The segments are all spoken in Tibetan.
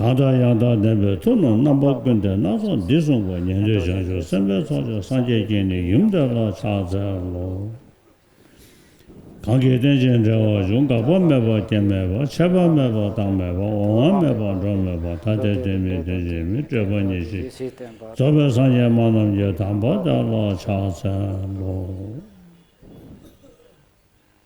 དག་དང་ཡང་དག་བདེན་པའི་མཐུ་རྣམས་རྣམ་པ་ཀུན་ཏེ་སྣ་ཚོགས་འདི་གསུངས་པ་ཉན་ཐོས་བྱང་ཆུབ་སེམས་དཔའི་ཚོགས་ཀྱང་སངས་རྒྱས་བསྐྱེད་ནས་ཡུམ་དེ་ལ་ཕྱག་འཚལ་ལོ། གང་གིས་རྟེན་ཅིང་འབྲེལ་བར་འབྱུང་འགག་པ་མེད་པ་སྐྱེ་མེད་པ་ཆད་པ་མེད་པ་བཏང་མེད་པ་འོང་བ་མེད་པ་འགྲོ་མེད་པ་ཐ་དད་དོན་མེད་དོན་ཅན་མི་སྤྲོས་པ་ཉིད་ཅིག་རྫོགས་པའི་སངས་རྒྱས་མ་རྣམས་ཀྱི་དམ་པ་དེ་ལ་ཕྱག་འཚལ་ལོ།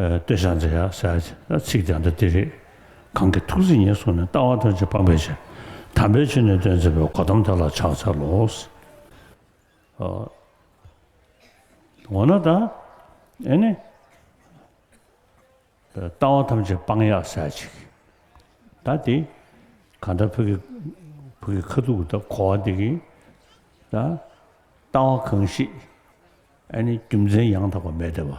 ལྟོས་བྱ་མཛེས་ཡག་ཟེར་ཚིག་དེ་འདྲ་འདི་རེད། གང་གི་ཐུགས་རྗེ་ཉིད་སོང་ནས་ལྟ་བ་ཐོན་བྱེད་སྤངས་པའི་ཕྱིར། དམ་པའི་ཆོས་ནི་སྟོན་མཛད་པའི་གོ་དམ་དེ་ལ་ཕྱག་འཚལ་ལོ། འོ་ན་ད་ཨེ་ནི། ལྟ་བ་ཐམས་ཅད་སྤངས་ཡག་ཟེར་ཅིག། ད་དེ་གང་འདྲ་བུ་གི་བུ་གི་ཁ་ཐུག་ད་གོ་བ་འདི་གི། ད་ལྟ་བ་གང་ཞིག་ཨེ་ནི་རྒྱུ་མཚན་ཡང་དག་པ་མེད་དེ་བ།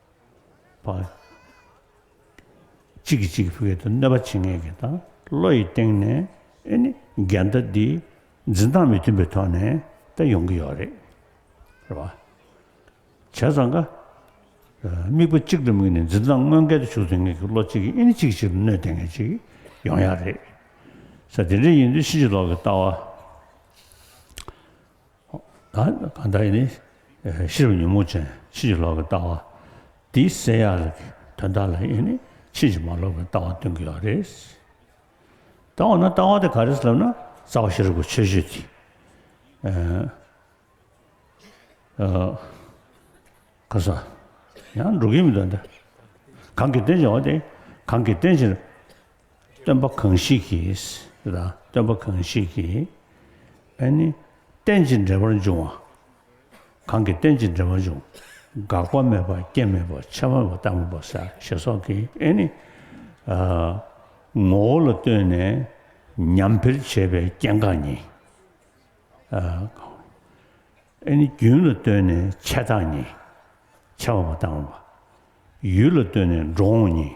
པ། གཅིག་གིས་གཅིག་གི་ཕུགས་ཡུལ་དུ་གནོད་པ་བྱེད་ངེས་ཀྱི་དང་བློ་ཡི་སྟེང་ནས་ཨེ་ནི་འགལ་ཟླ་འདི་འཛིན་སྟངས་མི་མཐུན་པའི་ཐོག་ནས་ད་ཡོང་གི་ཡོད་རེད་རེད་བ། བྱས་ཙང་ཀ། དམིགས་པ་གཅིག་ཏུ་དམིགས་ནས་འཛིན་སྟངས་དངོས་འགལ་དུ་ཞུགས་ཟིན་ངེས་ཀྱི་བློ་གཅིག་གིས་ཨེ་ནི་གཅིག་གི་ཕྱིར་གནོད་ལྡན་ངེས་ཅིག་ཡོང་ཡག་རེད། ས་དེ་འདྲ་ཡིན་དུས་ཕྱིན་ཅི་ལོག་གི་ལྟ་བ། གང་དག་ནི་ཤེས་རབ་ཉོན་མོངས་ཅན་ཕྱིན་ཅི་ལོག་གི་ལྟ་བ་འདིའི་བསལ་ཡག་ལ་གི་དོན་དག་ལ་ཡིན་ནི་ཕྱིན་ཅི་མ་ལོག་པའི་ལྟ་བ་སྟོན་གྱི་ཡོད་རེད། ད་འོ་ན་ལྟ་བ་དེ་ག་རེད་ལབ་ན་རྩ་བ་ཤེས་རབ་ཀྱི་ཆོས་བརྗོད་དེ། ག་ས་ཡང་འགྲོ་གི་མི་འདུག་ད། གང་གི་རྟེན་བྱེད་བ་དེ་གང་གི་རྟེན་བྱེད། སྟོན་པ་གང་ཞིག་གིས་དང་སྟོན་པ་གང་ཞིག་གིས་ཨེ་ནི། རྟེན་ཅིང་འབྲེལ་པར་འབྱུང་བ། གང་གིས་རྟེན་ཅིང་འབྲེལ་པར་འབྱུང། འགག་པ་མེད་པ་རྐྱེན་མེད་པ་ཕྱི་མ་མེད་པ་བདག་མེད་པ་ས་ཞེས་སོགས་ཀྱིས་ཨེ་ནི། ངོ་བོ་ལ་ལྟོས་ནས་ཉམས་འཕེལ་བྱེད་པའི་རྐྱེན་འགག་ཉིད། ཨེ་ནི། རྒྱུན་ལ་ལྟོས་ནས་ཆད་རྟགས་ཉིད། ཆད་པ་མ་བཏང་བ། ཡུལ་ལ་ལྟོས་ནས་འགྲོ་འོང་ཉིད།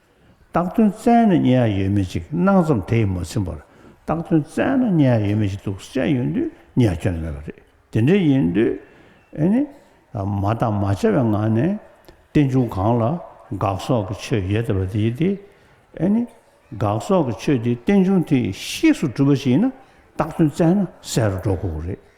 རྟགས་དོན་བཙལ་ནས་རྙེད་ཡ་ཡོད་མེད་ཅིག་སྣང་ཙམ་དེ་ཡིས་མ་ཚིམ་པར་རྟགས་དོན་བཙལ་ན་རྙེད་ཡ་ཡོད་མེད་ཅིག་འདུག་སྤྱད་ཡོད་དུས་རྙེད་ཡ་ཁྱོན་ནས་མེད་པ་རེད་དེ་འདྲའི་ཡིན་དུས། མ་བརྟགས་མ་དཔྱད་པའི་ངང་ནས། རྟེན་འབྱུང་གང་ལ་དགག་སོགས་ཀྱི་ཆོས་ཡོད་ཟེར་བ་དེ་ཡིན་ཏེ། དགག་སོགས་ཀྱི་ཆོས་དེ་རྟེན་འབྱུང་དེ་གཤིས་སུ་གྲུབ་པ་ཞིག་ཡིན་ན་རྟགས་དོན་བཙལ་ན་གསལ་རུ་འགྲོ་དགོས་པ་རེད།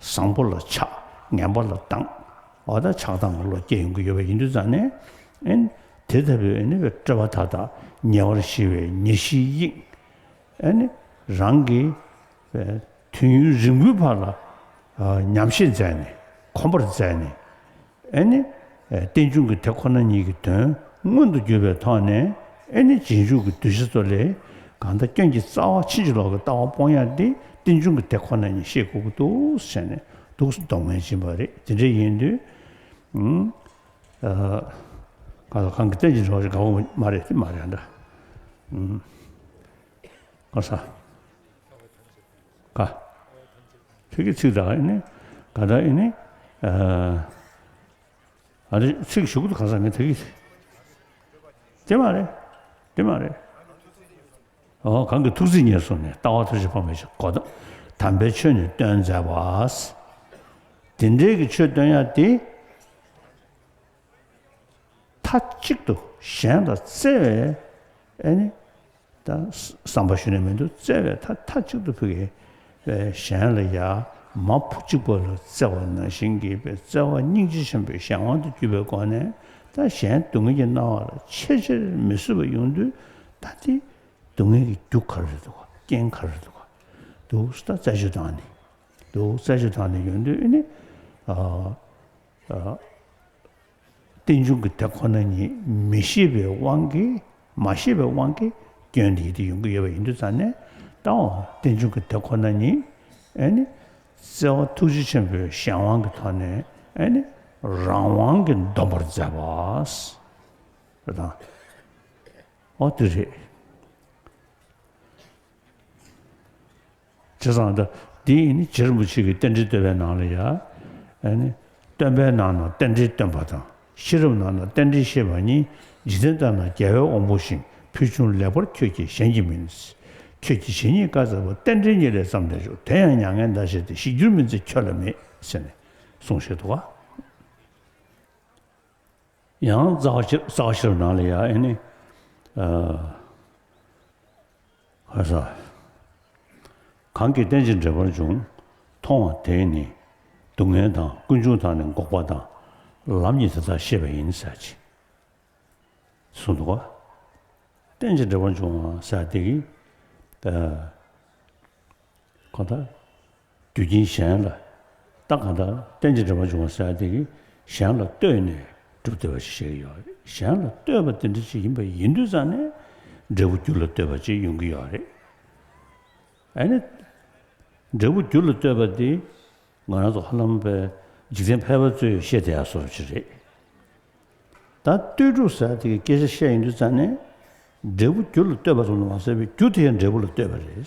བཟང་པོ་ལ་ཆགས་ངན་པ་ལ་སྡང། བ་དག་ཆགས་སྡང་གི་བློ་སྐྱེ་ཡོང་གི་ཡོད་པ་ཡིན་དུས་ཙང་ནས། དེ་ལྟ་བུའི་ནི་བའི་སྤྲོས་པ་དག་དང་ཉེ་བར་ཞི་བའི་ཉེ་བཞིའི་དབྱིངས། རང་གི། དུས་ཡུན་རིང་པོའི་བར་ལ། ཉམས་བཞེས་མཛད་ནས་གོམས་པར་མཛད་ནས། ཨེ་ནི། རྟེན་འབྱུང་གི་དེ་ཁོ་ན་ཉིད་ཀྱི་དོན་མངོན་དུ་གྱུར་པའི་ཐོག་ནས་ཨེ་ནི་རྗེས་འཇུག་གི་གདུལ་བྱ་ཚོ་ལས། གང་ལྟར་སྐྱོན་གྱི་རྩ་བ་ཕྱིན་ཅི་ལོག་གི་ལྟ་བ་སྤོང་ཡ་འདི་རྟེན་འབྱུང་གི་དེ་ཁོ་ན་ཉིད་ཤེས་དགོས་ཀྱི་འདུག་བྱས་ནས་འདུག་སོ་འདོགས་མི་བྱེད་པ་རེད་དེ་འདྲ་ཡིན་དུས། གང་ལྟར་གང་གི་རྟེན་ཅི་ལོག་ཅི་དགའ་བོ་མ་རེད་དེ་མ་རེད་འདྲ། ཨ། ཀ། ཚིག་གི་ཚིག་དང་ཨི་ནི་ག་དང་ཨི་ནི་ཨ། རེད་ཚིག་གཞུག་ཏུ་ག་ས་མི་དེ་གི། དེ་མ་རེད་དེ་མ་རེད། ཨོ་གང་གི་ཐུགས་རྩིས་ཉེར་བཟུང་ནས་ལྟ་བ་ཐུགས་རྗེ་འཕོ་མེད་ཀྱི་གོ། དམ་པའི་ཆོས་ནི་སྟོན་མཛད་པ། དེ་འདྲའི་གི་ཆོས་སྟོན་ཡ་དེ། མཐའ་གཅིག་ཏུ་གཞན་ལ་བརྩེ་བའི་བསམ་པ་ཞུ་ནས་མི་འདུག་བརྩེ་བའི་མཐའ་མཐའ་གཅིག་ཏུ་ཕུལ་བས་གཞན་ལ་ཡ་མ་བུ་གཅིག་པ་ལ་བརྩེ་བ་ནང་བཞིན་གྱིས་པའི་བརྩེ་བ་སྙིང་རྗེ་ཆེན་པོའི་གཞན་དབང་དུ་བསྐྱུར་བའི་སྒོ་ནས་ད་གཞན་སྡུག་བསྔལ་གྱི་སྣང་བ་ལ་ཆེས་ཆེར་མི་བཟོད་པ་ཡོང་དུས་ད་འདི་སྡུག་བསྔལ་གྱི་རྒྱུ་ག་རེ་འདུག་རྐྱེན་ག་རེ་འདུག་འདུག་ད་རྩད་གཅོད་བཏང་ནས་འདུག་རྩད་གཅོད་བཏང་ནས་ཡོང་དུས་ཨེ་ནི། རྟེན་འབྱུང་གི་དེ་ཁོ་ན་ཉིད་མི་ཤེས་པའི་དབང་གིས་མ་ཤེས་པའི་དབང་གིས་སྐྱོན་དེ་ཡིད་དུ་ཡོང་གི་ཡོད་པ་ཡིན་དུས་ཙམ་ནས་བཏང་བ་རྟེན་འབྱུང་གི་དེ་ཁོ་ན་ཉིད་ནི་བརྩེ་བ་ཐུགས་རྗེ་ཆེན་པོའི་གཞན་དབང་གི་ཐོག་ནས་ནི་རང་དབང་གིས་འདོམས་པར་མཛད་པ་རེད་དང། འོ་དེ་རེད། དེ་ཙམ་ལྟ། དེ་ཡིས་ནི་ཇེར་མུ་ཆིག་གི་རྟེན་འབྲེལ་སྟོན་པའི་ནང་ལ་ཡ། སྟོན་པའི་ནང་ན་རྟེན་འབྲེལ་སྟོན་པ་དང་ཤེས་རབ་ནང་ན་རྟེན་འབྲེལ་ཤེས་པ་གཉིས་འཇིག་རྟེན་ལྟར་ན་རྒྱལ་བའི་དབང་པོ་ཞིང་ཕུལ་བྱུང་ལེགས་པར་ཁྱོད་ཀྱིས་གཞན་གྱིས་མིན། ཁྱོད་ཀྱིས་བྱས་ཉེས་བཀའ་སྩལ་པ་རྟེན་འབྲེལ་གཉིས་ལས་བརྩམས་ནས་བཞུགས་དེ་ཡང་མྱ་ངན་འདའ་བྱེད་དེ་ཞིག་འགྱུར་མིན་ཚེ་ཁྱོད་ལ་མེད། ཟེར་ནས་གསུངས་ཤིག་དུ། ཡང། ཙག་ཤེར་ནང་ལ་ཡ། ཧ་ས། གང་གིས་རྟེན་ཅིང་འབྲེལ་པར་འབྱུང། མཐོང་བ་དེས་ནི་སྡུག་བསྔལ་དང་ཀུན་འབྱུང་དག་ནི་འགོག་པ་དང། ལམ་ཉིད་དེ་དག་ཤེས་པ་ཡིན་ས་ཅི། གསུང་དུ། རྟེན་ཅིང་འབྲེལ་པར་འབྱུང་བ་ས་དེ། ཁོ་ཐག། དུས་ཀྱིས་གཞན་ལ་བལྟ། གང་ལྟར་རྟེན་ཅིང་འབྲེལ་པར་འབྱུང་བ་གསལ་བདེ་གིས་གཞན་ལ་ལྟོས་ནས་སྒྲུབ་བདེ་བ་ཞིག་བྱེད་ཀྱི་ཡོད། གཞན་ལ་ལྟོས་པ་དེ་འདྲ་ཞིག་ཡིན་པ་ཡིན་དུས་རྩ་ནས་འབྲས་བུ་རྒྱུ་ལ་ལྟོས་པ་ཅིག་ཡོང་གི་ཡོད་རེད། ཨ་ནི། འབྲས་བུ་རྒྱུ་ལ་ལྟོས་པ་འདི་ང་རང་ཚོ་ཧ་ལམ་པའི་འཇིག་རྟེན་ཕལ་པ་ཚོས་ཤེས་བསྡད་ཡ་བཟོ་རུ་ཆེ་རེད། ད་ལྟོས་གྲུབ་གསལ་བདེ་གི་སྐད་ཆ་བཤད་ཡོང་དུས་རྩ་ནས་འབྲས་བུ་རྒྱུ་ལ་ལྟོས་པ་ཙམ་ལས་མ་གསལ་བས་རྒྱུ་དེ་ཡང་འབྲས་བུ་ལ་ལྟོས་པ་རེད།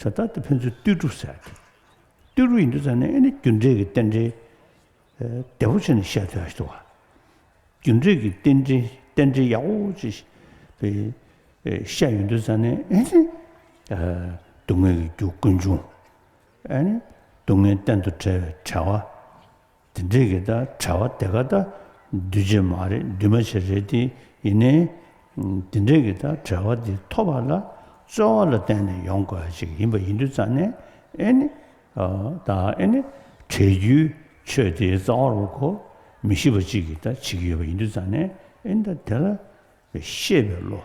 བྱ་བདག་དེ་ཕན་ཚུན་བརྟུལ་དཀྲུགས་ཟེར་ཏེ། བརྟུལ་དཀྲུགས་ཡིན་དུས་ཙང་ནས་ཨེ་ནི་རྒྱུ་འབྲས་ཀྱི་རྟེན་འབྲེལ་བདེ་བོ་ཆེ་ནས་བཤད་ཐུ་ཡ་ཞི་ཐུ་བ། རྒྱུ་འབྲས་ཀྱི་རྟེན་འབྲེལ་རྟེན་འབྲེལ་ཡག་པོ་ཆེ་བཤད་ཡོད་དུས་ཙང་ནས་ཨེ་ནི། སྡུག་བསྔལ་གྱི་རྒྱུ་ཀུན་འབྱུང། ཨེ་ནི། སྡུག་བསྔལ་གཏན་དུ་བྲལ་བའི་བྲལ་བ། དེ་འདྲས་ཀྱི་ད་བྲལ་བ་དེ་ག་ད་འདུས་བྱས་མ་རེད་འདུས་མ་བྱས་རེད་དེ་ཡིན་ནའི། དེ་འདྲས་ཀྱི་ད་བྲལ་བ་དེ་ཐོབ་པ་ལ་རྩོལ་བ་ལ་བརྟེན་ནས་ཡོང་དགོས་པ་ཞིག་ཡིན་པ་ཡིན་དུས་རྩ་ནས་ཨེ་ནི། ད་ཨེ་ནི། བྲལ་རྒྱུའི་ཆོས་དེའི་རྩ་བ་རུ་གོ་མི་ཤེས་པ་གཅིག་གིས་ད་བྱེད་ཀྱི་ཡོད་པ་ཡིན་དུས་རྩ་ནས་ཨེ་ནི་ད་དེ་ལ་ཤེས་པའི་བློ་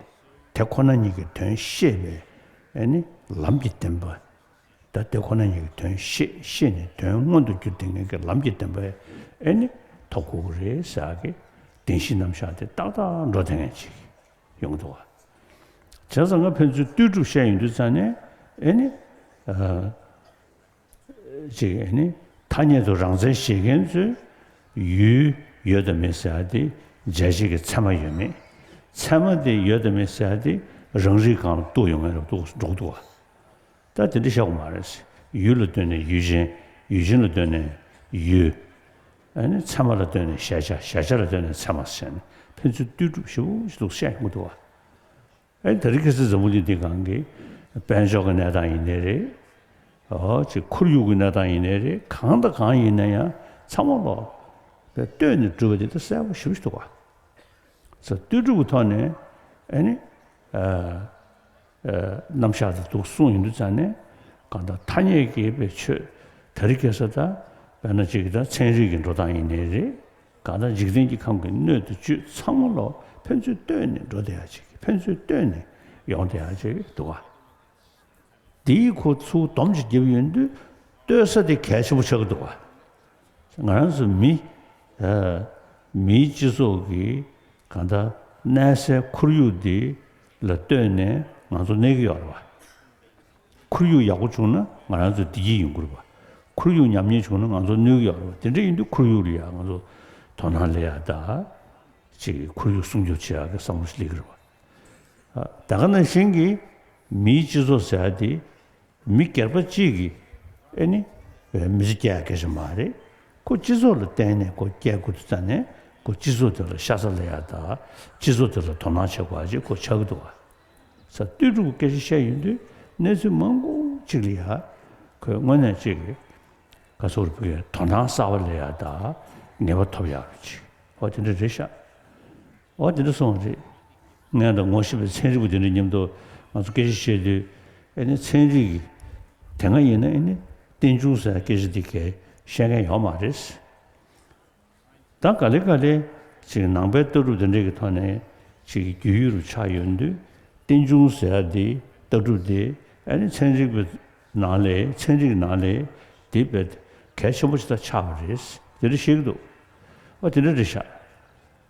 དེ་ཁོ་ན་ཉིད་ཀྱི་དོན་ཤེས་པའི་ཨེ་ནི་ལམ་གྱི་བདེན་པ་ད་དེ་ཁོ་ན་ཉིད་ཀྱི་དོན་ཤེས་ཤེས་ནས་དོན་མངོན་དུ་འགྱུར་ཏེ་ངན་གྱི་ལམ་གྱི་བདེན་པ་ཨེ་ནི་ཐོག་ཁུག་ཁུག་རེད་ཟེར་བ་གི། བདེན་བཞི་རྣམ་བཞག་དེ་ཏག་ཏག་འགྲོ་དེ་ངན་ཅིག་ཡོང་འདུག་བ། བྱས་ཙང་ང་ཕན་ཚུན་ལྟོས་གྲུབ་བཤད་ཡོང་དུས་ཙང་ནས་ཨེ་ནི། ཅིག་ཨེ་ནི། ཐ་སྙད་དུ་རང་བཙན་བཞེས་མཁན་ཚོས་ཡུལ་ཡོད་དམ་མེད་ཟེར་བ་དེ་འཇལ་བྱེད་ཀྱི་ཚད་མ་ཡོད་མེད། ཚད་མ་དེ་ཡོད་དམ་མེད་ཟེར་བ་དེ་རང་རིགས་གང་ལ་གཏུགས་ཡོང་ངེས་རབས་འདུག་འགྲོ་གི་འདུག་བ། ད་དེ་འདྲ་ཤོག་མ་རེད། ཡུལ་ལ་ལྟོས་ནས་ཡུལ་ཅན། ཡུལ་ཅན་ལ་ལྟོས་ནས་ཡུལ། ཨ་ནི་ཚད་མ་ལ་ལྟོས་ནས་གཞལ་བྱ་གཞལ་བྱ་ལ་ལྟོས་ནས་ཚད་མ་ཟེར་ནས་ཕན་ཚུན་ལྟོས་གྲུབ་ཞིབ་པོ་ཞིག་ལུགས་བཤད་མི་འདུག་བ། ཨེ་ད་རི་ཁེ་སི་འཛམ་བུ་གླིང་འདི་གང་གི་དཔལ་འབྱོར་གྱི་གནས་སྟངས་ཡིན་ནའི་རེད། ཨོ་ཅེ་ཁོར་ཡུག་གི་གནས་སྟངས་ཡིན་ནའི་རེད་གང་དང་གང་ཡིན་ན་ཡང་ཚང་མ་ལོག་པའི་ལྟོས་ནས་བསྒྲུབ་པ་འདི་ད་གསལ་པོ་ཞིབ་པོ་འདུག་བ། ཚ་ལྟོས་གྲུབ་ཀྱི་ཐོག་ནས་ཨེ་ནི། རྣམ་གཞག་དེ་དུག་གསུམ་ཡིན་དུ་བཅངས་ནས། གང་དག་ཐ་སྙད་ཀྱི་པའི་ཆོས་དེ་རིགས་སྐྱེ་ས་དག་བས་ན་ཅིག་དང་ཚན་རིག་གི་འགྲོ་སྟངས་ཡིན་ནི་རེད། གང་དག་འཇིག་རྟེན་གྱི་ཁམས་ཀྱི་སྣོད་དུ་བཅུད་ཚང་མ་ལོ་ཕན་ཚུན་ལྟོས་ནས་འགྲོ་བདེ་ཡག་ཅིག་ཕན་ཚུན་ལྟོས་ནས་ཡོང་བདེ་ཡག་ཅིག་འདུག་ག། འདིའི་ཁུ་ཚུར་དོམ་གཅིག་རྒྱབ་ཡོད་དུས་ལྟོས་ས་དེ་གལ་ཆེན་པོ་ཆགས་ཀྱི་འདུག་ག། ང་རང་ཚོ་མི་མིའི་སྤྱི་ཚོགས་ཀྱི་གང་ལྟར་གནས་སའི་ཁོར་ཡུག་འདི་ལ་ལྟོས་ནས་ང་ཚོ་གནས་ཀྱི་ཡོད་རེད་བ། ཁོར་ཡུག་ཡག་པོ་བྱུང་ན་ང་རང་ཚོ་བདེ་སྐྱིད་ཡོང་གི་རེད་བ། ཁོར་ཡུག་ཉམས་ཉེས་བྱུང་ན་ང་ཚོ་གནོད་ཀྱི་ཡོད་རེད་བ། དེ་འདྲ་ཡིན་དུས་ཁོར་ཡུག་ལ་ཡང་ང་ཚོ་དོ་སྣང་ལེ་ཡག་ད་ཅིག་ཁོར་ཡུག་སྲུང་སྐྱོབ་བྱེད་ཡག་གི་བསམ་བློ་ཞིག་ལེ་གི་རེད་བ། ད་ག་ནང་བཞིན་གྱི་མིའི་སྤྱི་ཚོགས་ཟེར་བ་དེ་མི་སྒེར་པ་གཅིག་གིས་ཨེ་ནི། མི་ཚེ་སྐྱེལ་ཀྱི་ཞིག་མ་རེད། ཁོ་སྤྱི་ཚོགས་ལ་བརྟེན་ནས་ཁོ་སྐྱེལ་དགོས་དུ་ཙང་ནས་ཁོ་སྤྱི་ཚོགས་དེ་ལ་ཤ་ཚ་ལེ་ཡ་དང་སྤྱི་ཚོགས་དེ་ལ་དོ་སྣང་བྱེད་དགོས་ཀྱི་ཁོ་ཆགས་ཀྱི་འདུག་ཨ། ས་བསྟོད་ཕྲུ་གུ་སྐད་ཆ་བཤད་ཡོད་དུས་གནས་ཚུལ་མང་པོ་གཅིག་ལེ་ཡ། ཁོས་དངོས་གནས་གཅིག་གི་ག་ཚོགས་རུ་ཕུལ་ཡང་དོ་སྣང་གསར་བ་ལེ་ཡ་དང་ངེས་པ་ཐོབ་ཡག་རུ་གཅིག་ཨོ་དེ་འདྲ་རེད་ཤག། ཨོ་དེ་འདྲ་སོང་བ་རེད། ངས་ད་ངོ་ཤེས་པའི་ཚན་རིག་པ་དེ་འདྲ་ཉམས་ཐོག་ང་ཚོ་སྐད་ཆ་བཤད་དུས་ཨེ་ནི་ཚན་རིག་གི་དེ་སྔ་ཡིན་ན་ཨེ་ནི་བསྟན་ཆུང་ཟེར་སྐད་ཆ་འདི་གས་བཤད་མཁན་ཡོག་མ་རེད། ད་ག་ལེ་ག་ལེ་ཅིག་ནང་པའི་ལྟ་གྲུབ་དེ་འདྲ་གི་ཐོག་ནས་ཅིག་རྒྱུས་ཡོད་རུ་ཆགས་ཡོད་དུས་བསྟན་ཆུང་ཟེར་འདི་ལྟ་གྲུབ་དེ་ཨེ་ནི་ཚན་རིག་པའི་ནང་ལས་ཚན་རིག་ནང་ལས་དེ་དཔེ་གལ་ཆེན་པོ་ཅིག་ད་ཆགས་པ་རེད་དེ་འདྲ་བཤད་གི་འདུག་ཨོ་དེ་འདྲ་རེད་ཤག།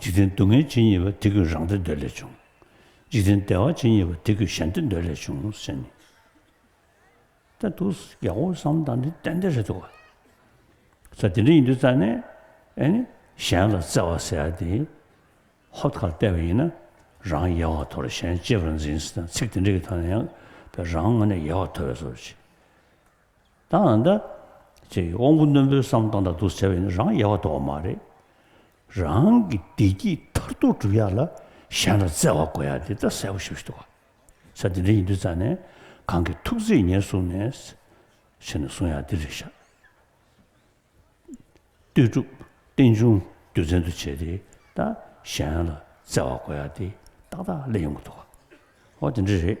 འཇིག་རྟེན་སྡུག་བསྔལ་ཇི་སྙེད་པ་དེ་ཀུན་རང་བདེ་འདོད་ལས་བྱུང། འཇིག་རྟེན་བདེ་བ་ཇི་སྙེད་པ་དེ་ཀུན་གཞན་བདེ་འདོད་ལས་བྱུང་ཟེར་ནི། ད་འདུག་རྒྱལ་པོ་བསམ་དང་འདི་གཏན་བདེ་རེད་འདུག་ག། ད་དེ་འདྲ་ཡིན་དུས་རྩ་ནས་ཨེ་ནི་གཞན་ལ་བརྩེ་བ་ཟེར་དེ་ཧོབ་ཁར་བལྟས་པ་ཡིན་ན་རང་ཡལ་བ་དོར་གཞན་གཅེས་པར་འཛིན་ཟེར་ན་ཚིག་དེ་འདྲ་གི་ཐོག་ནས་ཡང་རང་ངོ་ནས་ཡལ་བ་དོར་བའི་བཟོ་བྱེད། ད་འང་ད། ཅེས་དབང་པོ་རྣོན་པོའི་བསམ་སྟངས་དང་བསྡུར་བྱ་བས་ནི་རང་ཡལ་བ་དོགས་པ་མ་རེད། རང་གི་བདེ་སྐྱིད་མཐར་ཐུག་བསྒྲུབ་ཡག་ལ་གཞན་ལ་བརྩེ་བ་བགོ་ཡག་འདི་ད་གསལ་བོ་ཞིབ་ཞུ་དགོས། ས་འདི་འདྲ་ཡིན་དུས་རྩ་ནས་གང་གི་ཐུགས་བརྩེས་ཉེར་བཟུང་ནས། ཕྱི་ནས་བཟུང་ཡང་འདི་རེད་བཞག། ལྟོས་གྲུབ་རྟེན་འབྱུང་རྒྱུ་མཚན་དུ་བྱས་ཏེ་ད་གཞན་ལ་བརྩེ་བ་བགོ་ཡག་འདི་ཏག་ཏག་སླེབས་ཡོང་གི་འདུག་གོ་འདི་འདྲ་རེད།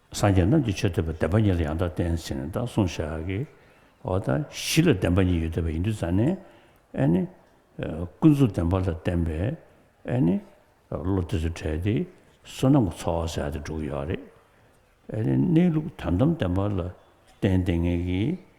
སངས་རྒྱས་རྣམས་ཀྱི་ཆོས་ཐོས་པའི་བདེན་པ་ཉིད་ལ་ཡང་དག་བསྟན་ཟིན་ནས་དག་གསུངས་ཤག་གི། འོ་ད་གཞི་ལ་བདེན་པ་ཉིད་ཡོད་དོ་བའི་ཡིན་དུས་ཙཱ་ནི། ཨེ་ནི། ཀུན་རྫོབ་བདེན་པ་ལ་བརྟེན་པའི། ཨེ་ནི། བློ་དེ་ཚོ་བྲལ་ཏེ་བསོད་ནམས་ཀྱི་ཚོགས་བསགས་ཏེ་འགྲོ་གི་ཡོད་རེད། ཨེ་ནི་གནས་ལུགས་དོན་དམ་བདེན་པ་ལ་བརྟེན་ཏེ་ངེས་ཀྱི་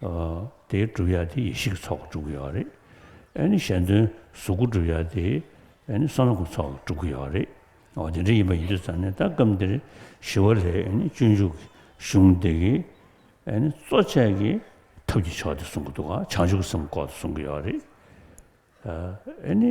དེའི་གྲུབ་ཡ་དེ་ཡེ་ཤེས་ཀྱི་ཚོགས་ཀྱིས་གྲུབ་ཀྱི་ཡོད་རེད། ཨེ་ནི་གཞན་དོན་གཟུགས་སྐུ་གྲུབ་ཡ་དེ་ཨེ་ནི་བསམ་བློ་གྱི་ཚོགས་ཀྱིས་གྲུབ་ཀྱི་ཡོད་རེད། འོ་དེ་འདྲ་ཡིན་པ་ཡིན་དུས་ཙང་ནས་ད་སྐབས་འདིར་ཞི་བ་ལྷའི་ཨེ་ནི་སྤྱོད་འཇུག་གི་གཞུང་སྡེ་གི་ཨེ་ནི་གཙོ་བྱས་ཀྱི་ཐབས་ཀྱི་ཕྱོགས་དེ་གསུང་གི་འདུག་ག་བྱང་ཆུབ་ཀྱི་སེམས་ལྐོག་ཏུ་གསུང་གི་ཡོད་རེད། ཨེ་ནི།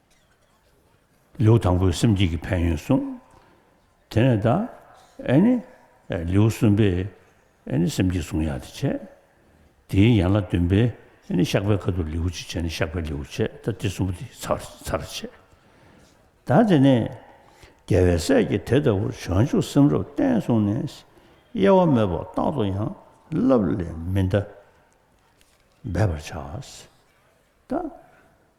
ལེའུ་དང་པོའི་སེམས་བསྐྱེད་ཀྱི་ཕན་ཡོན་གསུངས། དེ་ནས་ད། ལེའུ་གསུམ་པས། སེམས་བསྐྱེད་གསུང་ཡག་དེ་བྱས། དེའི་ཡན་ལག་བདུན་པས། བཤགས་པའི་ཁ་དོག་ལེའུ་གཅིག་བྱས་ནས་བཤགས་པའི་ལེའུ་བྱས་ད་དེ་གསུམ་པོ་དེ་ཚར་བྱས། ད་དེ་ནས། རྒྱལ་བའི་སྲས་ཀྱིས་དེ་ལྟ་བུར་བྱང་ཆུབ་སེམས་རབ་བརྟན་གསུངས་ནས། གཡེལ་བ་མེད་པར་རྟག་ཏུ་ཡང་བསླབ་ལས་མི་འདའ། འབད་པར་བྱ། ད།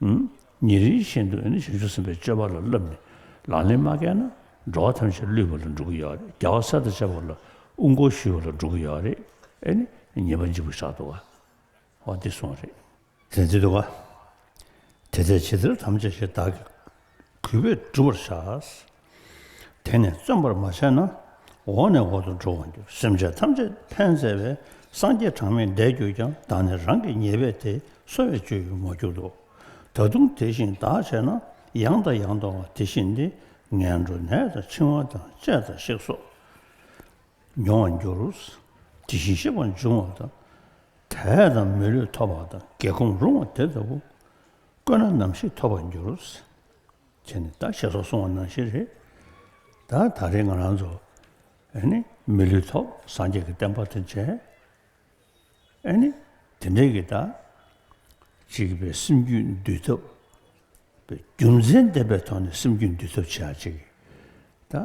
ཉིན་རེ་བཞིན་དུ་ཞིབ་འཇུག་ཟིན་པའི་དཔྱོད་པ་ལ་བསླབས་ནས་ལག་ལེན་མ་བཀལ་ན་འགྲོ་བ་ཐམས་ཅད་བསླུས་པ་ལ་འགྲོ་གི་ཡོད་རེད་རྒྱལ་བ་སྲས་དང་བཅས་པ་ལ་དབུ་མགོ་བཤུས་པ་ལ་འགྲོ་གི་ཡོད་རེད་ཉེས་པ་འཇིགས་པ་ཆགས་འདུག་བ་འདི་སོང་རེད། དེ་འདི་འདུག་བ། དེ་ལྟའི་ཕྱི་ཚུལ་ཐམས་ཅད་ཞེ་བདག་གི། གུས་པས་བསྒྲུབ་པར་བྱ། དེ་ནས་བརྩོན་པར་མ་བྱས་ན། འོག་ནས་འོག་ཏུ་འགྲོ་བར་འགྱུར་སེམས་ཅན་ཐམས་ཅད་ཕན་མཛད་པའི་སངས་རྒྱས་གྲངས་མེད་འདས་གྱུར་ཀྱང་བདག་ནི་རང་གི་ཉེས་པས་དེ་གསོ་བའི་སྤྱོད་ཡུལ་མ་གྱུར་ཏོ། ད་དུང་དེ་བཞིན་བདག་བྱས་ན་ཡང་དང་ཡང་དང་བ་དེ་བཞིན་ཏེ་ངན་འགྲོ་ནད་དང་འཆིང་བ་དང་བཅས་དང་གཤེགས་སོགས་མྱོང་བར་འགྱུར། དེ་བཞིན་གཤེགས་པ་འབྱུང་བ་དང། དད་དང་མི་ལུས་ཐོབ་པ་དང་བགེགས་སྐོམ་རུང་བ་དེ་ལྟ་བུ། བཀོད་ན་ནམ་ཞིག་ཐོབ་པར་འགྱུར། ཁྱེད་ནི་ད་ཞེས་སོགས་གསུང་བ་ནང་བཞིན་རེད། ད་ད་རེས་ང་རང་ཚོ། ཨེ་ནི། མི་ལུས་ཐོབ་སངས་རྒྱས་ཀྱི་བསྟན་པ་དེ་མཇལ། ཨེ་ནི། དེ་འདྲའི་གྱི་ད། ཅིག་པའི་སེམས་རྒྱུད་འདུལ་ཐབས། པའི་རྒྱུ་མཚན་ལྡན་པའི་ཐོག་ནས་སེམས་རྒྱུད་འདུལ་ཐབས་བྱེད་ཨ་ཅིག། ད།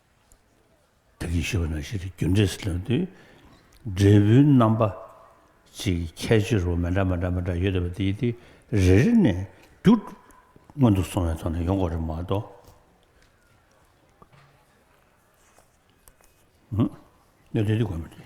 བདག་གིས་ཞུ་བ་ནང་བཞིན་དུ་རྒྱུ་འབྲས་སུ་ལོན་དུས། འབྲས་བུའི་རྣམ་པ་གཅིག་གི་ཁྱད་ཆོས་རོ་མི་འདྲ་མི་འདྲ་མི་འདྲ་ཡོད་དེ་བ་དེ་རེ་རེ་ནས་རྒྱུ་སྔོན་དུ་སོང་བའི་ཐོག་ནས་ཡོང་གོ་རེ་མ་གཏོགས། གནད་དོན་དེ་གོ་མི་ཐུབ།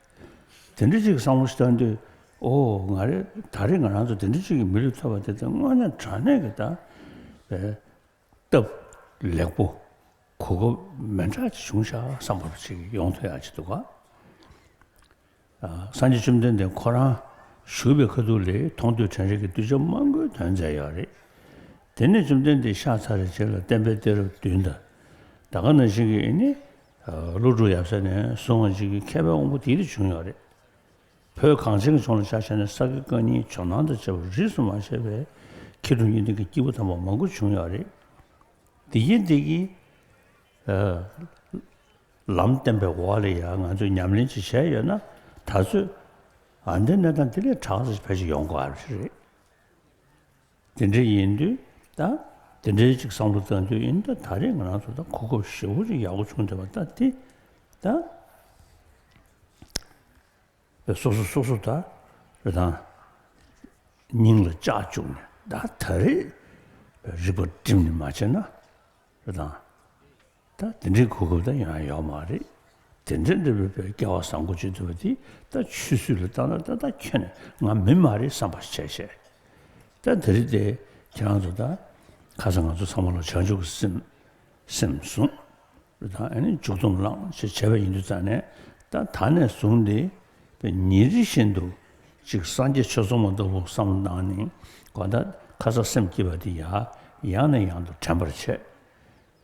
དེ་འདྲ་གཅིག་བསམ་བློ་བཏང་དུས་ཨོ་ང་རེ་ད་རེས་ང་རང་ཚོ་དེ་འདྲ་གཅིག་གི་མི་རིགས་ཐོབ་པ་དེ་དང་དངོས་གནས་དྲང་གནས་ཀྱི་དང་བས་སྟབས་ལེགས་པོ་གོ་སྐབས་མན་དྲག་ཅིག་བྱུང་ཤག་བསམ་པ་པོ་ཅིག་ཡོང་ཐུ་ཡག་ཅིག་འདུག་ག་སངས་རྒྱས་བཅོམ་ལྡན་འདས་ཁོ་རང་བཞུགས་པའི་ཁ་ཐུག་ལས་མཐོང་ཐོས་དྲན་རེག་གི་གདུལ་བྱ་མང་པོའི་དོན་མཛད་ཡག་རེད་དེ་ནས་བཅོམ་ལྡན་འདས་ཤག་ཚ་རེ་རྗེས་ལ་བསྟན་པའི་གཏེར་བདུན་དང་ད་ག་ན་བཞིན་གྱི་ནི། ཀླུ་སྒྲུབ་ཡབ་སྲས་ནས་གསུང་བ་གཅིག་གིས་མཁས་པའི་དབང་པོ་དེའི་རིགས་བྱུང་ཡོད་རེད། བོད་གངས་ཅན་གྱི་ཕྱོགས་ལ་ཕྱག་བྱས་ནས་ས་དགེ་བཀའ་རྙིང་ཇོ་ནང་དང་བཅས་པ་རིས་སུ་མ་ཆད་པའི་མཁས་གྲུབ་གཉིས་ལྡན་གྱི་སྐྱེས་བུ་དམ་པ་མང་པོ་བྱུང་ཡོད་རེད། འདི་ཡིན་འདི་གྱིས། ལམ་བསྟན་པའི་འོག་ལ་ཡང་ང་ཚོས་ཉམས་ལེན་ཅིག་བྱས་ཡོད་ན་ད་གཟོད་འདི་གནས་སྟངས་འདི་ལས་དྲག་ཅིག་ཕལ་ཆེར་ཡོང་གི་མ་རེད། དེ་འདྲ་ཡིན་དུས་ད་དེ་འདྲའི་ཅིག་བསམ་བློ་རྩ་འདུལ་ཡིན་ད་ད་རེས་ང་རང་ཚོ་ད་གོ་སྐབས་ཞེ་བོ་ཅིག་ཡག་པོ་བྱུང་བསྡད་པ་ད་དེ་ད་བས་སོ་སོ་སོ་སོ་ད་རེ་ད་སྙིང་ལ་བཅག་བཅུག་ནས་ད་ད་རེས་རིག་པ་བསྒྲིམ་ནས་མ་བྱས་ན་རེ་ད་ད་དེ་འདྲའི་གོ་སྐབས་ད་ཡང་ཡོག་མ་རེད། དེ་འདྲའི་འདྲ་བའི་བསྐལ་བ་བཟང་པོ་ཅིག་འདུག་པ་དེ་ད་ཆུད་ཟོས་ལ་བཏང་ན་ད་ད་ཁྱོད་ནི་ང་མི་མ་རེད་བསམ་པ་ཞིག་བྱས་ཤག་ད་དེ་རེད་དེ་ཁྱེད་རང་ཚོ་ད་ཁ་སང་ང་ཚོ་ཚང་མ་ལ་བྱང་ཆུབ་ཀྱི་སེམས་སེམས་བཟུང་རེད་ད་ཨ་ནི་འཇུག་སྡོམ་བླངས་ཞེས་བྱས་པ་ཡིན་དུས་ད་ནས་ད་ད་ནས་བཟུང་སྟེ་པའི་ཉིན་རེ་བཞིན་དུ་ཅིག་སངས་རྒྱས་ཆོས་ཚོགས་མ་གཏོགས་པོ་བསམ་བློ་གནང་ནས་དགོན་ད་ཁ་ས་སེམས་སྐྱིད་པ་དེ་ཡང་ཡང་ནས་ཡང་དུ་དྲན་པར་བྱས།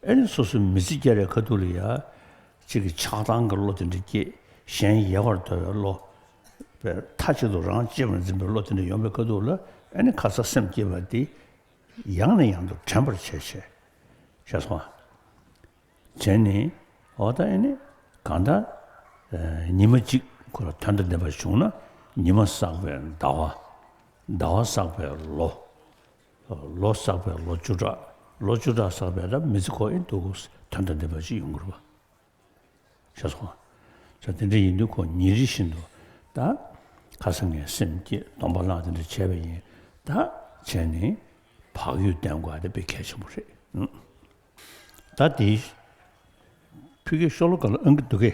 ཨེ་ནི་སོ་སོའི་མི་ཚེ་བསྐྱལ་བའི་ཁ་ཐུག་ལ་ཡ། གཅིག་གིས་ཆགས་སྡང་གི་བློ་དེ་འདྲ་སྐྱེས། གཞན་ཡལ་བར་དོར་བའི་བློ། པའི་མཐའ་གཅིག་ཏུ་རང་གཅེས་པར་འཛིན་པའི་བློ་དེ་འདྲ་ཡོང་བའི་ཁ་ཐུག་ལ་ཨེ་ནི་ཁ་ཚ་སེམས་སྐྱེས་པ་དེ། ཡང་ནས་ཡང་དུ་དྲན་པར་བྱེད། བྱས་སོང་བ། དེ་ནི། འོ་ད་ཨེ་ནི། གང་ལྟར། ཉི་མ་གཅིག་ཁོ་ལ་དོན་དང་ལྡན་པ་བྱུང་ན། ཉི་མ་བསགས་པའི་ཟླ་བ། ཟླ་བ་བསགས་པའི་ལོ། ལོ་བསགས་པའི་ལོ་བཅུ་ཕྲག་ལོ་བཅུ་ཕྲག་བསགས་པའི་རབས་མི་ཚེ་ཁོག་ཡིན་འདུག་དོན་དང་ལྡན་པ་ཅིག་ཡོང་གི་རུང་བ་ཤ་ཟུང་བྱ་དེ་འདྲ་ཡིན་དུས་ཁོ་ཉིན་རེ་བཞིན་དུ་ད་ག་ས་ངའི་སེམས་བསྐྱེད་སྡོམ་པ་ལག་དེ་འདྲ་བྱས་པ་ཡིན་ད་བྱས་ནས་བག་ཡོད་ལྡན་དགོས་དེ་དཔེ་གལ་ཆེན་པོ་རེད་ད་དེའི་ཕུད་ཀྱི་ཤོ་ལོ་ག་ལ་ཨང་གི་འདུག་གི།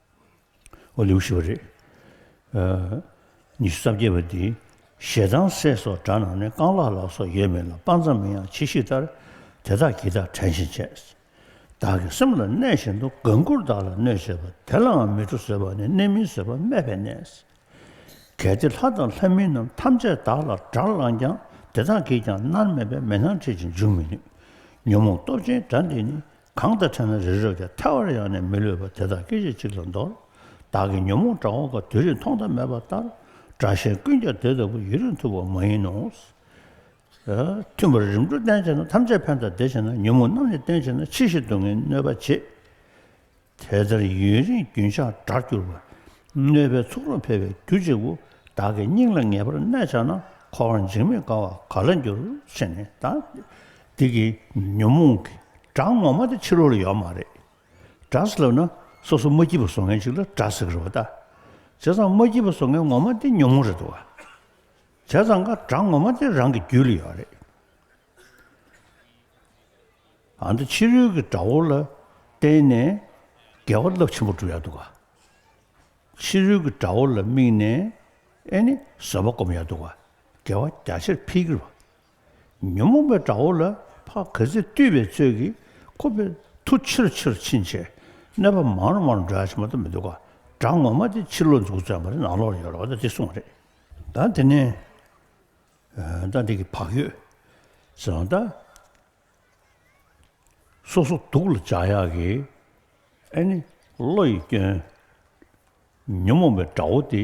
ཨོ་ལེའུ་ཞེས་པ་རེད། ཉི་ཤུ་རྩ་བརྒྱད་པ་འདིའི་ཞལ་གདམས་སྲས་སོགས་དགྲ་ནང་ནས་རྐང་ལག་ལག་སོགས་ཡོད་མེད་ལ་དཔག་མཚམས་མིན་ཡང་ཕྱི་གཤིས་ལྟར་དེ་དག་གིས་བདག་དྲན་བཞིན་བྱས། བདག་གི་སེམས་ལ་གནས་བཞིན་དུ་དགའ་མགུར་བདག་ལ་གནོད་བྱེད་པ་དེ་ལའང་མི་འགྲོ་ཟེར་བ་ནི་གནས་མིན་ཟེར་བ་སྨད་པའི་གནས། གལ་ཏེ་ལྷ་དང་ལྷ་མིན་རྣམས་ཐམས་ཅད་བདག་ལ་དགྲར་བླངས་ཀྱང་དེ་དག་གིས་ཀྱང་མནར་མེད་པའི་མེ་སྣང་འཕྲད་ཅིང་འཇུག་མི་ནུས། ཉོན་མོངས་སྟོབས་ཆེན་དགྲ་འདི་ནི་གང་དང་འཕྲད་ན་རི་རབ་ཀྱང་ཐལ་བར་ཡང་ནས་མི་ལུས་པ་དེ་དག་སྐད་ཅིག་གཅིག་ལ་འདོར། བདག་གི་ཉོན་མོངས་དགྲ་བོ་འགའ་དུས་རིང་མཐོང་ཐོས་མེད་པ་ལྟར། དགྲ་གཞན་ཀུན་ཀྱང་དེ་ལྟ་བུ་ཡུན་རིང་ཐུབ་པ་མ་ཡིན་ནོ། མཐུན་པར་རིམ་གྲོ་བརྟན་བྱས་ན་ཐམས་ཅད་ཕན་དང་བདེ་བྱས་ན་ཉོན་མོངས་རྣམས་ནི་བརྟན་བྱས་ན་ཕྱི་བཞིན་སྡུག་བསྔལ་གནོད་པ་བྱེད། དེ་ལྟར་ཡུན་རིང་རྒྱུན་ཆགས་དགྲར་གྱུར་པ། གནོད་པའི་ཚོགས་རུ་འཕེལ་བའི་རྒྱུ་གཅིག་པུ། བདག་གི་སྙིང་ལ་ངེས་པར་གནས་བཅའ་ན། འཁོར་བར་འཇིགས་མེད་དགའ་བ་ག་ལ་འགྱུར། ཕྱི་ནས་དང། འདི་གི་ཉོན་མོངས་ཀྱི་སྒྲ་ངོ་མ་དེ་ཕྱི་རོལ་ལ་ཡོད་མ་རེད། སྒྲ་ཟེར་ལབ་ན་སོ་སོ་མ་སྐྱིད་པ་བཟོ་མཁན་ཞིག་ལ་སྒྲ་ཟེར་གི་རེད་བ་ད། བྱས་ཙང་མ་སྐྱིད་པ་བཟོ་མཁན་ངོ་མ་དེ་ཉོན་མོངས་རེད་བ། བྱས་ཙང་ཀ་སྒྲ་ངོ་མ་དེ་རང་གི་རྒྱུད་ལ་ཡོད་རེད། ཨ་མདོ་ཕྱི་རོལ་གྱི་སྒྲ་བོ་ལ་བརྟེན་ནས་འགལ་བ་རླབས་ཆེན་པོ་འགྲུབ་ཡག་འདུག་བ། ཕྱི་རོལ་གྱི་སྒྲ་བོ་ལ་དམིགས་ནས་ཨེ་ནི་བཟོད་པ་སྒོམ་ཡག་འདུག་བ་འགལ་བ་རྒྱ་ཆེར་འཕེལ་གི་རེད་བ། ཉོན་མོངས་པའི་དགྲ་བོ་ལ་བྷ་ག་ཚིག་བཏུས་པའི་ཚུལ་གྱིས་ཁོ་པའི་མཐུ་ཆེར་ཆེར་ཕྱིན་ཆད་གནས་པ་མང་རུང་མང་རུང་དགྲ་ཕྱི་མ་དུ་མི་འདུག་ག་དགྲ་ངོ་མ་དེ་ཕྱི་ལོག་འཛུགས་བརྩོན་པ་རེད་ནང་ལོག་ཡོད་རོགས་ད་འདི་གསུངས་རེད་ད་འདི་ནི་ད་འདི་གི་བག་ཡོད་ཟེར་བ་ད་སོ་སོ་སྡུག་ལ་འཇགས་ཡག་གི་ཨ་ནི་བློ་ཡི་སྐྱོན། ཉོན་མོངས་པའི་དགྲ་བོ་དེ།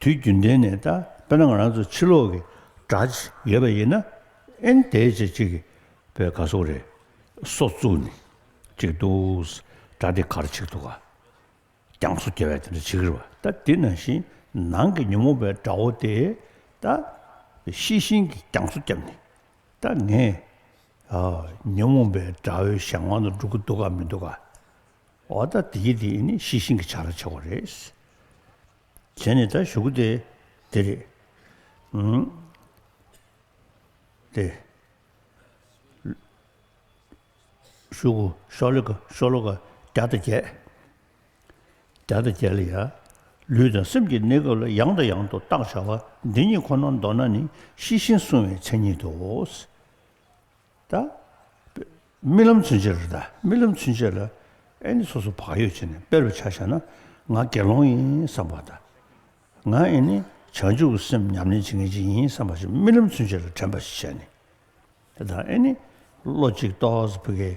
དུས་རྒྱུན་ལྡན་ནས་ད་དཔེར་ན་ང་རང་ཚོ་ཕྱི་ལོག་གི་གྲྭ་བྱས་ཡོད་པ་ཡིན་ན་ཨིན་དེ་བྱས་ཅིག་གིས་པའི་ག་སོག་རེ་སོགས་བཙུགས་ནས་ཅིག་འདུག་གྲྭ་དེ་གར་ཆིག་འདུག་ག་རྐྱང་སོ་རྒྱལ་བས་དེ་འདྲ་བྱེད་གི་རེད་བ་ད་དེ་ནང་བཞིན་ནང་གི་ཉོན་མོངས་པའི་དགྲ་བོ་དེས་ད་ཤེས་བཞིན་གྱི་རྐྱང་སོ་བརྒྱབ་ནས་ད་ངས་ཉོན་མོངས་པའི་དགྲ་བོའི་ཞག་མང་དུ་འགྲོ་གི་འདུག་ག་མི་འདུག་ག། འོ་ད་དེའི་དེ་ནི་ཤེས་བཞིན་གྱི་ཆ་ལ་ཆགས་པ་རེད། དེ་ནི་ད་ཞུགས་ཏེ་དེ་རེད། དེ། ཞུགས། ཤོ་ལོ་ཀ་ཤོ་ལོ་ཀ་བརྒྱ་དང་བརྒྱད། བརྒྱ་དང་བརྒྱད་ལ་ཡ། ལུས་དང་སེམས་ཀྱི་གནས་སྐབས་ལ་ཡང་དང་ཡང་དུ་བརྟག་བྱ་བ་འདི་གཉིས་ཁོ་ནར་འདོགས་ན་ནི་ཤེས་བཞིན་བསྲུང་བའི་མཚན་ཉིད་དོ། ད། རྨི་ལམ་ཚུན་ཆད་རེད་ད་རྨི་ལམ་ཚུན་ཆད་ལ་ཨེ་ནི་སོ་སོ་བག་ཡོད་བྱས་ནས་དཔེར་བྱ་བྱས་ན་ང་དགེ་སློང་ཡིན་བསམ་པ་ད། ང་ཨེ་ནི་བྱང་ཆུབ་ཀྱི་སེམས་ཉམས་ལེན་བྱེད་མཁན་ཅིག་ཡིན་བསམ་པ་ཞིག་རྨི་ལམ་ཚུན་ཆད་ལ་དྲན་པ་ཞིག་བྱས་ནས་ད་ཨེ་ནི་བློ་གཅིག་རྟོགས་ཕུ་གེ།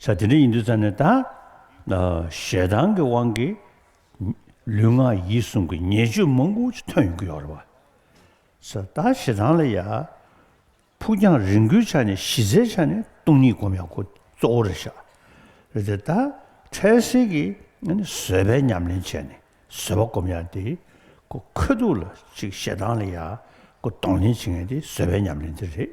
ས་དེ་འདྲ་ཡིན་དུས་ཙམ་ནས་ད། ཞེ་སྡང་གི་དབང་གིས། ལུས་ངག་ཡིད་གསུམ་གྱི་ཉེས་སྤྱོད་མང་པོ་ཞིག་ཐོན་ཡོང་གི་ཡོད་རེད་བ། ས་ད་ཞེ་སྡང་ལ་ཡ། ཕུགས་རྒྱང་རིང་པོའི་ཆ་ནས་གཞི་རྩའི་ཆ་ནས་སྟོང་ཉིད་སྒོམ་ཡག་པོ་གཙོ་བོ་རེད་ཤག། རེད་དེ་ད། འཕྲལ་སེལ་གྱི་བཟོད་པའི་ཉམས་ལེན་བྱས་ནས་བཟོད་པ་སྒོམ་ཡག་དེ། ཁོས་ཐུགས་ལ་ཅིག་ཞེ་སྡང་ལ་ཡ། གདོང་ལེན་བྱེད་མཁན་དེ་བཟོད་པའི་ཉམས་ལེན་དེ་རེད།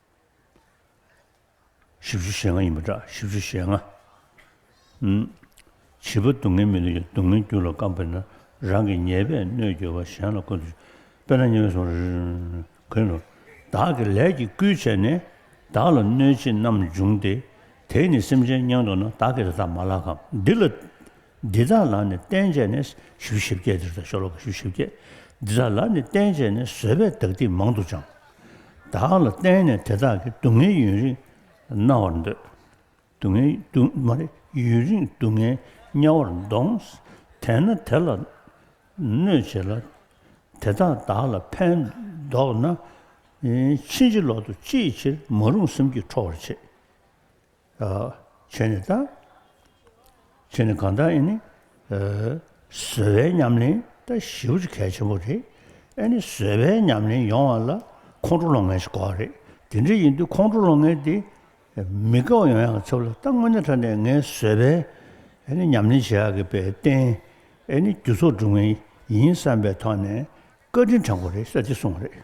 བཞི་བཅུ་ཞེ་ལྔ་ཡིན་པ་འདྲ་བཞི་བཅུ་ཞེ་ལྔ། བྱིས་པ་སྡུག་བསྔལ་མི་ལུས་ཀྱི་སྡུག་བསྔལ་རྒྱུ་ལ་སྐམ་པས་ན་རང་གི་ཉེས་པས་གནོད་འགྱོད་པ་གཞན་ལ་བཀོད་དོ། དཔེར་ན་ཉེ་བའི་སོང་གོས་ནོར། བདག་གི་ལས་ཀྱིས་བརྐུས་བྱས་ནས་བདག་ལ་གནོད་བྱེད་རྣམས་འབྱུང་སྟེ། དེས་ནི་སེམས་ཅན་བསྙེངས་དོགས་ན་བདག་གིས་དེ་དག་མ་ལགས་ཀམ། འདི་ལ། འདི་དག་ལ་ནི་བསྟན་བྱས་ནས་བཞི་བཞི་བརྒྱད་འདིར་དང་ཤོ་ལོ་ཀ་བཞི་བཞི་བརྒྱད། འདི་དག་ལ་ནི་བསྟན་བྱས་ནས་བཟོད་པས་བདག་འདིས་མང་དུ་སྦྱངས། བདག་ལ་བརྟེན་ནས་དེ་དག་གིས་སྡུག་བསྔལ་ཡུན་རིང་མནར་བར་འདོད། སྡུག་བསྔལ་ཡུན་རིང་སྡུག་བསྔལ་དམྱལ་བར་འདོངས། དེས་ན་དེ་ལ་གནོད་བྱེད་ལ། དེ་དག་བདག་ལ་ཕན་འདོགས་ན། ཕྱིན་ཅི་ལོག་ཏུ་ཅིའི་ཕྱིར་མ་རུངས་སེམས་ཀྱིས་ཁྲོ་བར་བྱེད། ཆོས་ནི་བདག། ཆོས་ནི་གང་དག་ཨེ་ནི། བཟོད་པའི་ཉམས་ལེན་ལྟ་ཞིབ་གལ་ཆེན་པོ་རེད། ཨེ་ནི་བཟོད་པའི་ཉམས་ལེན་ཡོང་བ་ལ་ཁོང་ཁྲོ་སློང་མཁན་ཞིག་གོ་བ་རེད། དེ་འདྲ་ཡིན་དུས་ཁོང་ཁྲོ་སློང་མཁན་དེ་མི་དགའ་བ་ཡོང་ཡང་ཆོག་ལ་ད་དངོས་གནས་ཁྲ་ནས་ངས་བཟོད་པའི་ཨེ་ནི་ཉམས་ལེན་བྱེད་ཡག་གི་པའི་རྟེན་ཨེ་ནི་རྒྱུ་ཚོགས་སྒྲུབ་མཁན་ཡིན་བསམ་པའི་ཐོག་ནས་བཀའ་དྲིན་དྲན་གོ་རེད་ས་ཅི་གསུང་བ་རེད།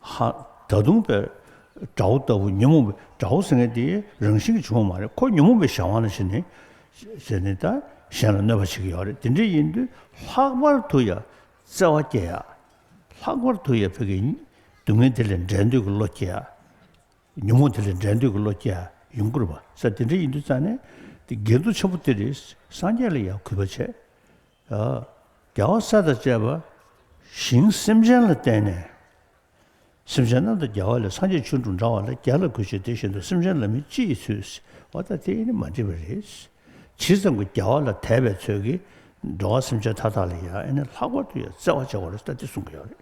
ཧ། ད་དུང་པའི་དགྲ་བོ་ལྟ་བུ་ཉོན་མོངས་པའི་དགྲ་བོ་ཟེར་མཁན་དེ་རང་བཞིན་གྱིས་བྱུང་བ་མ་རེད་ཁོ་ཉོན་མོངས་པའི་བྱ་བ་ན་བྱེད་ནས་བྱེད་ནས་དང་གཞན་ལ་གནོད་པ་བྱེད་ཀྱི་ཡོད་རེད་དེ་འདྲ་ཡིན་དུས་ལྷག་པར་དུ་ཡང་བརྩེ་བ་སྐྱེ་ཡ། ལྷག་པར་དུ་ཡང་བོད་ཀྱི་སྡུག་བསྔལ་དེ་ལས་འབྲལ་འདོད་ཀྱི་བློ་སྐྱེ་ཡ། ཉོན་མོངས་དེ་ལས་འབྲལ་འདོད་ཀྱི་བློ་སྐྱེ་ཡ་ཡོང་དགོས་རེད་བསམ་དེ་འདྲ་ཡིན་དུས་རྩ་ནས་དགེ་འདུན་ཆེན་པོ་དེ་རེད་སངས་རྒྱས་ལ་ཡང་གུས་པ་བྱས། རྒྱལ་བ་སྲས་དང་བཅས་པ་ཞིང་སེམས་ཅན་ལ་བསྟན་ནས། སེམས་ཅན་རྣམས་དང་རྒྱལ་བ་ལས་སངས་རྒྱས་ཆོས་དྲུག་འབྲང་བ་ལ་རྒྱལ་ལ་གུས་བྱེད་དེ་བཞིན་དུ་སེམས་ཅན་ལ་མི་ཅིའི་ཚུལ་བ་དག་དེ་ནི་མ་འདྲིས་པ་རེད། ཇི་ཙམ་གྱི་རྒྱལ་བ་ལ་དད་པའི་ཚུལ་གྱིས་འགྲོ་བ་སེམས་ཅན་མཐའ་དག་ལ་ཡང་ལྷག་པར་དུ་ཡང་བརྩེ་བ་བྱེད་པ་རེད་ད་དེ་གསུང་གི་ཡོད་རེད་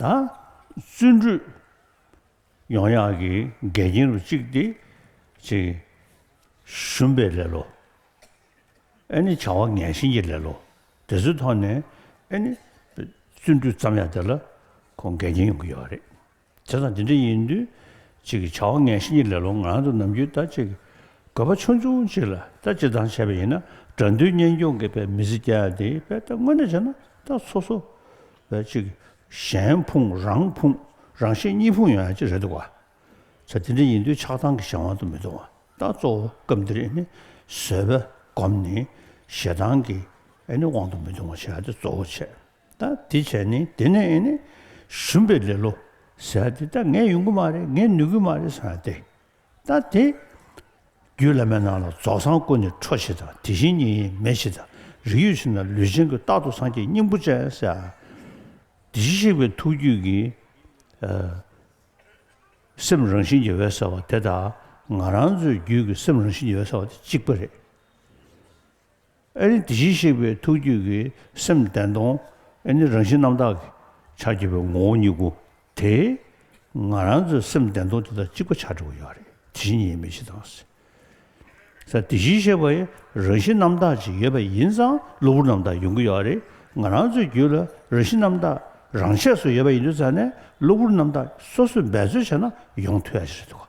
ད། བརྩོན་འགྲུས་ཡོངས་ཡངས་ཀྱི་འགལ་རྐྱེན་རུ་བཅུག་སྟེ། ཞུམ་པའི་ལེ་ལོ། ཨེ་ནི་བྱ་བ་ངན་ཞིང་ཡིད་ལས་ལོ། དེ་ཚོའི་ཐོག་ནས་ཨེ་ནི། བརྩོན་འགྲུས་བརྩམ་ཡག་དེ་ལ་ཁོང་འགལ་རྐྱེན་ཡོང་གི་ཡོད་རེད། དེ་དང་དེ་འདྲ་ཡིན་དུས་གཅིག་གིས་བྱ་བ་ངན་ཞིང་ཡིད་ལས་ལོ་ངང་དུ་ནམ་རྒྱུན་ད་ཅིག་དགོས་པ་ཆུང་ཆུང་ཅིག་ལ་ད་ཅིག་འདང་བྱས་པ་ཡིན་ན་དགྲ་འདུལ་གཉེན་སྐྱོང་གི་པའི་མི་ཚེ་བསྐྱལ་ཡག་དེ་པའི་ད་དངོས་གནས་བྱས་ན་ད་ཚོ་ཚོ་བས་ཅིག་གཞན་ཕུང་རང་ཕུང་རང་ཤེས་གཉིས་ཕུང་ཡོང་ཡག་ཅིག་རེད་འདུག་བ། བྱ་དེ་འདྲ་ཡིན་དུས་ཆགས་སྡང་གི་གཞན་དབང་དུ་མི་གཏོང་བ་ད་གཙོ་བོ་སྐབས་འདིར་བཟོད་པ་བསྒོམ་ནས་ཞེ་སྡང་གི་དབང་དུ་མི་གཏོང་བ་བྱ་དེ་གཙོ་བོ་བྱས་ད་དེ་བྱས་ནས་དེ་ནས་ཞུམ་པའི་ལེ་ལོ་ཟེར་བ་དེ་ད་ངས་ཡོང་གི་མ་རེད་ངས་ནུས་ཀྱི་མ་རེད་ཟེར་བ་དེ་ད་དེ། རྒྱུད་བླ་མའི་ནང་ལ་རྫོགས་སངས་ཀུན་ནས་འཕྲོ་བྱེད་དང་དེ་བཞིན་ཉིད་ཡེངས་མེད་བྱེད་དང་རིགས་ཡོད་ཕྱིར་ན་ལུས་ཅན་གྱི་རྟག་ཏུ་སངས་རྒྱས་སྙིང་པོ་ཅན་ཟེར་བ་དེ་བཞིན་གཤེགས་པའི་ཐུགས་རྒྱུད་ཀྱི། སེམས་རང་བཞིན་གྱི་འོད་གསལ་བ་དེ་དང་ང་རང་ཚོའི་རྒྱུད་ཀྱི་སེམས་རང་བཞིན་གྱི་འོད་གསལ་བ་དེ་གཅིག་པ་རེད། ཨེ་རེད་དེ་བཞིན་གཤེགས་པའི་ཐུགས་རྒྱུད་ཀྱི་སེམས་བདེན་སྟོང་ཨེ་ནི་རང་བཞིན་རྣམ་དག་གི་ཆར་གྱུར་པའི་ངོ་བོ་ཉིད་སྐུ་དེས་ང་རང་ཚོའི་སེམས་བདེན་སྟོང་དེ་དང་གཅིག་པ་ཆགས་འདྲི་བ་ཡོད་རེད་དེ་བཞིན་ཉིད་མི་ཕྱེད་དང། ས་དེ་བཞིན་གཤེགས་པ་ཡི་རང་བཞིན་རྣམ་དག་ཅིག་ཡོད་པ་ཡིན་ཙང་གློ་བུར་རྣམ་དག་ཡོང་གི་ཡོད་པ་རེད། ང་རང་ཚོའི་རྒྱུད་ལ་རང་བཞིན་རྣམ་དག་རང་ཆས་སུ་ཡོད་པ་ཡིན་དུས་ཙང་ནས་གློ་བུར་རྣམ་དག་སོ་སོས་འབད་རྩོལ་བྱས་ན་ཡོང་ཐུ་ཡ་ཞིག་རེད་འདུག་ག།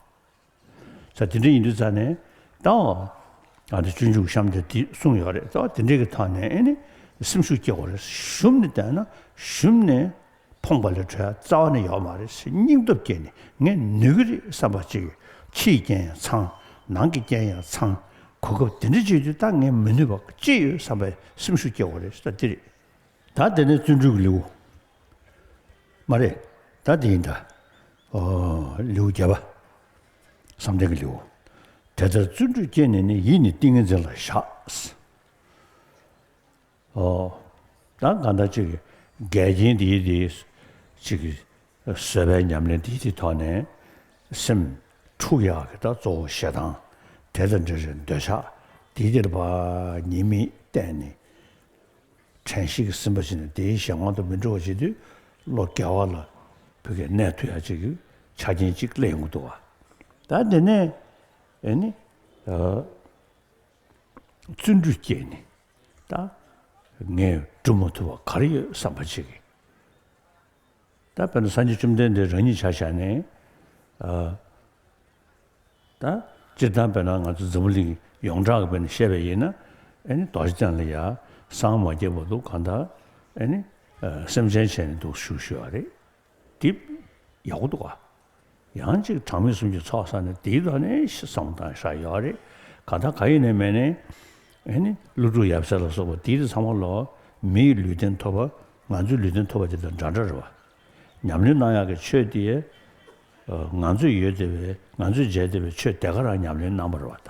ས་དེ་འདྲ་ཡིན་དུས་ཙང་ནས་ད་འོ། ཨ་འདི་སྤྱོད་འཇུག་གཤམ་དེ་འདི་གསུངས་ཡོད་རེད་ད་འོ་དེ་འདྲའི་གི་ཐང་ནས་ཨེ་ནི་སེམས་ཤུགས་སྐྱེ་བ་རེད་ཞུམ་ནས་བསྡད་ན་ཞུམ་ནས་ཕོངས་པ་ལས་གྲོལ་བ་རྩ་བ་ནས་ཡོད་མ་རེད་ཟེར་སྙིང་སྟོབས་སྐྱེས་ནས་ངས་ནུས་ཀྱི་རེད་བསམ་པ་ཅིག་ཕྱིའི་རྐྱེན་ཡང་ཚང་ནང་གི་རྐྱེན་ཡང་ཚང་གོ་སྐབས་དེ་འདྲ་བྱེད་དུས་ད་ངས་མི་ནུས་པ་ཅི་ཡོད་བསམ་པའི་སེམས་ཤུགས་སྐྱེ་བ་རེད་ད་འདི་རེད་ད་འདི་ནི་བརྩོན་འགྲུས་ཀྱི་ལེའུ་མ་རེད་ད་འདི་ཡིན་ད་ལེའུ་བརྒྱད་པ་བསམ་གཏན་གྱི་ལེའུ་དེ་ལྟར་བརྩོན་འགྲུས་སྐྱེས་ནས་ནི་ཡིད་ནི་ཏིང་ངེ་འཛིན་ལ་བཞག། ཨོ། ད་གང་ལྟར་ཅིག་འགལ་རྐྱེན་འདིའི་དེ་ཅིག་བཟོད་པའི་ཉམས་ལེན་འདིའི་དེ་ཐོག་ནས། སེམས། འཁྲུགས་ཡག་གི་ད་གཙོ་བོ་ཞེ་སྡང། དེ་དང་འདྲེ་རེད་འདོད་ཆགས་འདིའི་དེར་བ། ཉེས་དམིགས་གཏན་ནས། དྲན་གཤིས་ཀྱི་སིམ་པ་ཅན་ནས་དེའི་ཞེ་དབང་དུ་མི་འགྲོ་བ་བྱེད་དུས། བློ་བསྐྱལ་བ་ལ། བུ་གའི་གནས་མཐུ་ཡག་ཅིག་གི་ཆ་རྐྱེན་ཅིག་གླེང་དགོས་འདུག་བ། ད་དེ་ནས། ཨེ་ནི། བརྩོན་འགྲུས་བསྐྱེད་ནས། ད་ངས་བསྒྲུབ་མ་ཐུབ་པ་གར་ཡོད་བསམ་པ་གཅིག་གིས། ད་དཔེར་ན་སངས་རྒྱས་བཅོམ་ལྡན་འདས་རང་ཉིད་ཕྱག་བཞག་ནས། ད་སྤྱིར་བཏང་དཔེར་ན་ང་ཚོ་འཛམ་བུ་གླིང་ཡོངས་གྲགས་ཀྱི་དཔེར་ན་བཤད་པ་ཡིན་ན། ཨེ་ནི་དོགས་ཅན་ལ་ཡ་སངས་མ་རྒྱས་པ་འདུག་གང་ལྟར་ཨེ་ནི་སེམས་ཅན་བྱས་ནས་འདུག་ཞུ་ཞུ་བ་རེད། འདིབ། ཡག་པོ་འདུག་ག། ཡང་གཅིག་གྲངས་མེད་གསུམ་གྱི་ཚོགས་བསགས་ནས་དེའི་ཐོག་ནས་བསམ་དང་ཤ་ཡོད་རེད། གང་ལྟར་ག་ཡིན་ནས་མེད་ནས། ཨེ་ནི། ཀླུ་སྒྲུབ་ཡབ་སྲས་ལ་སོགས་པ་དེའི་རིགས་ཚང་མ་ལོག། མི་ཡི་ལུས་རྟེན་ཐོབ་པ། ང་ཚོའི་ལུས་རྟེན་ཐོབ་པ་དེ་དང་འདྲ་འདྲ་རེད་བ། ཉམས་ལེན་གནང་ཡག་གི་ཆོས་དེ། ང་ཚོས་ཡོད་དེ་བས་ང་ཚོས་མཇལ་དེ་བས་ཆོས་དེ་ག་རང་ཉམས་ལེན་གནང་པར་རེ་བ་ད།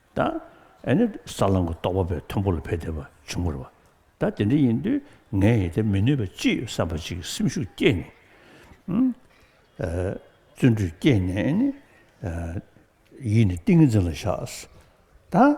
ད་ཨེ་ནི་ས་བླང་གི་རྟོག་པ་པའི་མཐོན་པོ་ལ་ཕེབས་བསྡད་པ་བྱུང་བར་བ། ད་དེ་འདྲ་ཡིན་དུས་ངས་ཡི་དད་མི་ནུས་པ་ཅི་ཡོད་བསམ་པ་ཅིག་གི་སེམས་ཤུགས་བསྐྱེད་ནས། བརྩོན་འགྲུས་བསྐྱེད་ནས་ཨེ་ནི། ཡིད་ནི་ཏིང་ངེ་འཛིན་ལ་བཞག། ད།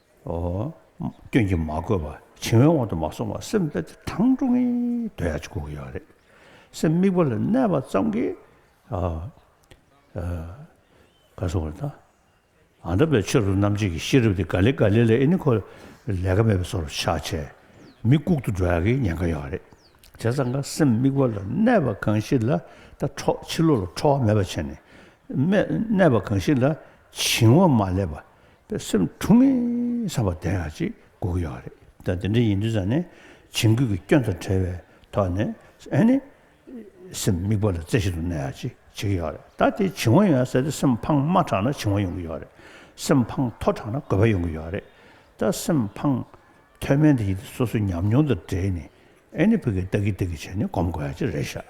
སྐྱོན་གྱིས་མ་གོས་པར་བྱིང་བའི་དབང་དུ་མ་སོང་བར་སེམས་དཔའ་ཆུ་གྲང་དྲོ་ངེ་འདོད་ཡ་གཅིག་གོ་གི་ཡོད་རེད། སེམས་དམིགས་པ་ལ་གནས་པ་ཙམ་གྱིས། ག་སོང་བ་དང། ཨ་འདྲ་བའི་ཆོས་ལུགས་རྣམ་འབྱེད་ཀྱི་ཤེས་རབ་དེ་ག་ལེ་ག་ལེ་ལས་ཨེ་ནི་ཁོ་ལས་ཀ་མེད་པའི་སོར་ཆགས་ཆེ། མི་ལྐུག་ཏུ་འགྲོ་ཡ་གི་ཉེན་ཁ་ཡོད་རེད། དེ་ཚང་ཁ་སེམས་དམིགས་པ་ལ་གནས་པ་གང་ཞིག་ལ་ད་ཁྲོག་ཕྱི་ལོ་ལ་ཁྲོ་བ་མེད་པ་བྱས་ནས། གནས་པ་གང་ཞིག་ལ་བྱིང་བ་མ་སླེབས་པ་པའི་སེམས་འཁྲུག་ངེས་བསམ་པ་ལྡན་ཡག་ཅིག་སྒུག་གི་ཡོད་རེད་ད་དེ་འདྲ་ཡིན་དུས་ཙང་ནས་བྱིང་རྒོད་ཀྱི་སྐྱོན་དང་བྲལ་བའི་ཐོག་ནས་ཨེ་ནི་སེམས་དམིགས་པ་ལ་རྩེ་ཞིག་ཏུ་གནས་ཡག་ཅིག་བྱེད་ཀྱི་ཡོད་རེད་ད་དེ་བྱིང་བ་ཡོད་ས་དེ་སེམས་ཕངས་དམའ་དྲགས་ན་བྱིང་བ་ཡོང་གི་ཡོད་རེད་སེམས་ཕངས་མཐོ་དྲགས་ན་དགོད་པ་ཡོང་གི་ཡོད་རེད་ད་སེམས་ཕངས་མཐོའི་སྨན་དེ་ཡིན་དུས་སོ་སོའི་ཉམས་མྱོང་དང་འབྲེལ་ནས་ཨེ་ནི་བུ་གས་ལྟག་གིས་ལྟག་གིས་བྱས་ནས་སྒོམ་དགོས་ཡག་ཅིག་རེད་ཤག།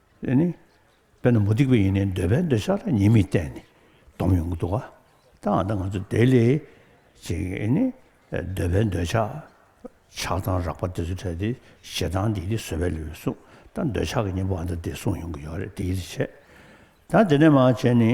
ཨེ་ནི། དཔེར་ན་མུ་སྟེགས་པས་ཡིན་ནའི་འདོད་པའི་འདོད་ཆགས་ལ་ཉེས་དམིགས་བསྟན་ནས་སྡོམ་ཡོང་གི་འདུག་ག་ད་ང་དང་ང་ཚོ་དེ་ལས་ཅིག་ཨེ་ནི། འདོད་པའི་འདོད་ཆགས་ཆགས་སྡང་རགས་པ་དེ་ཚོ་ཕྲལ་ཏེ་ཞེ་སྡང་འདི་དེ་བཟོད་པའི་ལུས་གསུངས་ད་འདོད་ཆགས་ཀྱི་གཉེན་པོ་ཨ་མདའ་དེ་གསུངས་ཡོང་གི་ཡོད་རེད་དེ་ཡིད་ཆེས་ད་དེ་ནས་མ་བྱས་ནི།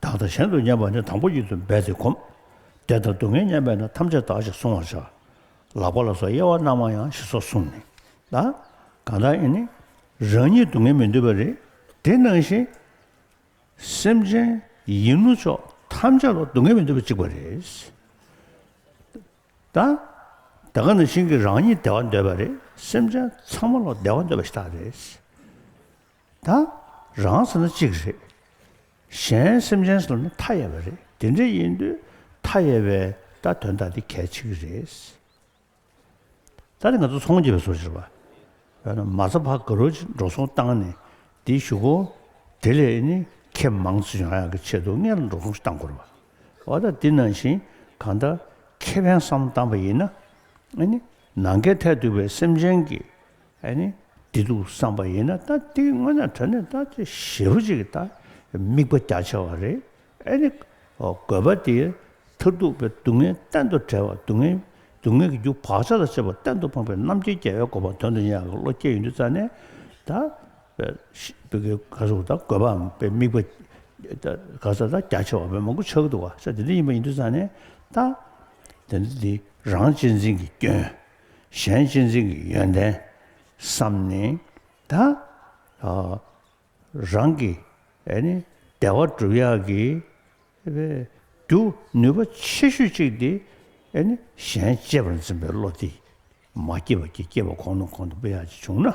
བདག་དང་གཞན་དུ་བསྙེན་པ་ནི་དང་པོ་ཉིད་དུ་འབད་དེ་གོམས། བདེ་དང་སྡུག་བསྔལ་བསྙེན་པས་ན་ཐམས་ཅད་དག་ཅིང་བསྲུང་བར་བྱ། ལག་པ་ལ་སོགས་དབྱེ་བ་རྣམ་མང་ཡང་ཞེས་སོགས་གསུངས་ནས། ད་གང་དག་ཡིན་ནི། རང་ཉིད་སྡུག་བསྔལ་མི་འདོད་པ་རེད། དེ་སྣང་བཞིན། སེམས་ཅན། ཡིན་ནོ་ཅོག་ཐམས་ཅད་ལ་སྡུག་བསྔལ་མི་འདོད་པ་གཅིག་པ་རེད། ད། ད་གང་དག་ཞིང་གིས་རང་ཉིད་བདེ་བ་འདོད་པ་རེད། སེམས་ཅན་ཚང་མ་ལ་བདེ་བ་འདོད་པ་ཞིག་དག་རེད། ད་རང་ཟེར་ན་གཅིག་རེད། གཞན་སེམས་ཅན་ཟེར་ན་མཐའ་ཡས་པ་རེད་དེ་འདྲ་ཡིན་དུས་མཐའ་ཡས་པའི་ད་དོན་དག་འདི་གལ་ཆེ་གི་རེད། ད་ནི་ང་ཚོ་ཚོང་བྱེད་པའི་སོ་ཕྱིར་བ་བས་ན་མ་ཚ་བ་དགའ་རོགས་ཀྱིས་འགྲོ་སོང་བཏང་ནས་འདི་ཞུ་གོ། དེ་ལས་ནི་ཁྱེད་མང་ཚིག་ཡང་ཡང་གི་ཆེད་དུ་སྔས་ལ་འགྲོ་སོང་ཞིག་བཏང་དགོས་རེད་བ། འོ་ད་འདི་ནང་བཞིན་གང་ལྟར་ཁྱེད་ཕན་བསམ་བཏང་བ་ཡིན་ན། ནང་ཁའི་ཐལ་རྡུགས་པའི་སེམས་ཅན་གྱི་ཨ་ནི་བདེ་སྡུག་བསམ་པ་ཡིན་ན་ད་འདི་དངོས་ན་དོན་ནི་ད་དེ་ཞེ་བོ་ཅིག་གིས་ད་དམིགས་པ་རྒྱ་ཆེ་བ་རེད། ཨ་ནི་དགོས་པ་དེའི་མཐར་ཐུག་པའི་སྡུག་བསྔལ་གཏན་དུ་བྲལ་བ་སྡུག་བསྔལ་སྡུག་བསྔལ་གྱི་རྒྱུ་བག་ཆགས་ལ་བཅས་པ་གཏན་དུ་སྤངས་པའི་རྣམ་མཁྱེན་རྒྱལ་བའི་གོ་འཕང་དོན་དུ་གཉེར་བ་གི་བློ་སྐྱེས་ཡོད་འདུག་རྩ་ནས་ད་བོད་ཀྱི་ག་ཟུག་ད་དགོས་པའམ་དཔེ་དམིགས་པ་ད་ག་ས་ད་རྒྱ་ཆེ་བ་བོད་མང་པོ་ཆགས་ཀྱི་འདུག་བ་ས་དེ་འདྲ་ཡིན་པ་ཡིན་འདུག་རྩ་ནས་ད་དེ་འདྲ་འདི་རང་གཅེས་འཛིན་གྱི་སྐྱོན། གཞན་གཅེས་འཛིན་གྱི་ཡོན་ཏན་བསམ་ནས་ད་རང་གི་བདེ་བ་སྒྲུབ་ཡག་གི་རྒྱུ་ནུས་པ་ཆེ་ཤོས་གཅིག་དེ་གཞན་གཅེས་པར་འཛིན་པའི་བློ་དེ་མ་སྐྱེས་པ་གྱི་སྐྱེས་པ་གོང་ནས་གོང་དུ་འཕེལ་ཡག་ཅིག་བྱུང་ན་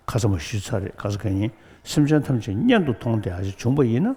ཁ་ཚ་མ་ཞུ་ཚར་རེད་ག་ས་ག་ཡིན་སེམས་ཅན་ཐམས་ཅད་སྙན་དུ་མཐོང་དེ་ཡག་ཅིག་བྱུང་པ་ཡིན་ན་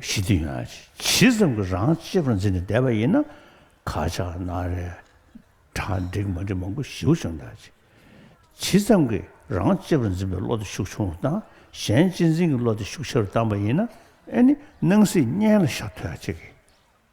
ཞི་དུལ་ཡང་ཇི་ཙམ་གྱིས་རང་གཅེས་པར་འཛིན་ནས་བསྡད་པ་ཡིན་ན་ག་ཅག་ན་རེ། གྲ་འགྲིག་མ་འགྲིག་མང་པོ་ཞིའུ་བྱུང་ད་ཅི། ཇི་ཙམ་གྱིས་རང་གཅེས་པར་འཛིན་པའི་བློ་དེ་ཤུགས་ཆུང་རུ་བཏང་གཞན་གཅེས་འཛིན་གྱི་བློ་དེ་ཤུགས་ཆེ་རུ་བཏང་པ་ཡིན་ན་ཨེ་ནི་སྣང་སྲིད་གཉན་ལ་ཤ་ཐོད་ཅིག་གིས།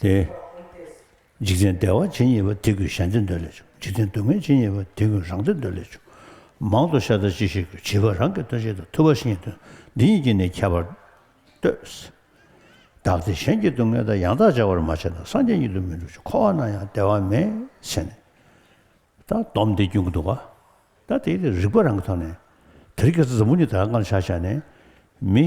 ཏེ། འཇིག་རྟེན་བདེ་བ་ཇི་སྙེད་པ་དེ་ཀུན་གཞན་དོན་འདོད་ལས་བྱུང་འཇིག་རྟེན་སྡུག་བསྔལ་ཇི་སྙེད་པ་དེ་ཀུན་རང་དོན་འདོད་ལས་བྱུང། མང་དུ་ཤ་ད་ཅི་ཞིག་གིས་བྱིས་པ་རང་གི་དོན་ཤེས་དང་ཐུབ་པ་ཤེས་དོན་འདི་གཉིས་ཀྱིས་ནི་ཁྱད་པར་ལྟོས། བདག་སྟེ་གཞན་གྱི་སྡུག་བསྔལ་དང་ཡང་དག་སྦྱར་བར་མ་བྱས་ན་སངས་རྒྱས་ཉིད་དུ་མི་འགྲུབ་ཅིང་འཁོར་བ་ན་ཡང་བདེ་བ་མེད་ཟེར་ནས། ད་དོམ་དེ་རྒྱུན་གདུག་པ། ད་དེའི་རིགས་པ་རང་གི་ཐོག་ནས། དེར་གྱི་རྩ་རྫིང་བུ་ཉིད་དག་སྔར་ཕྱག་བྱས་ནས། མི།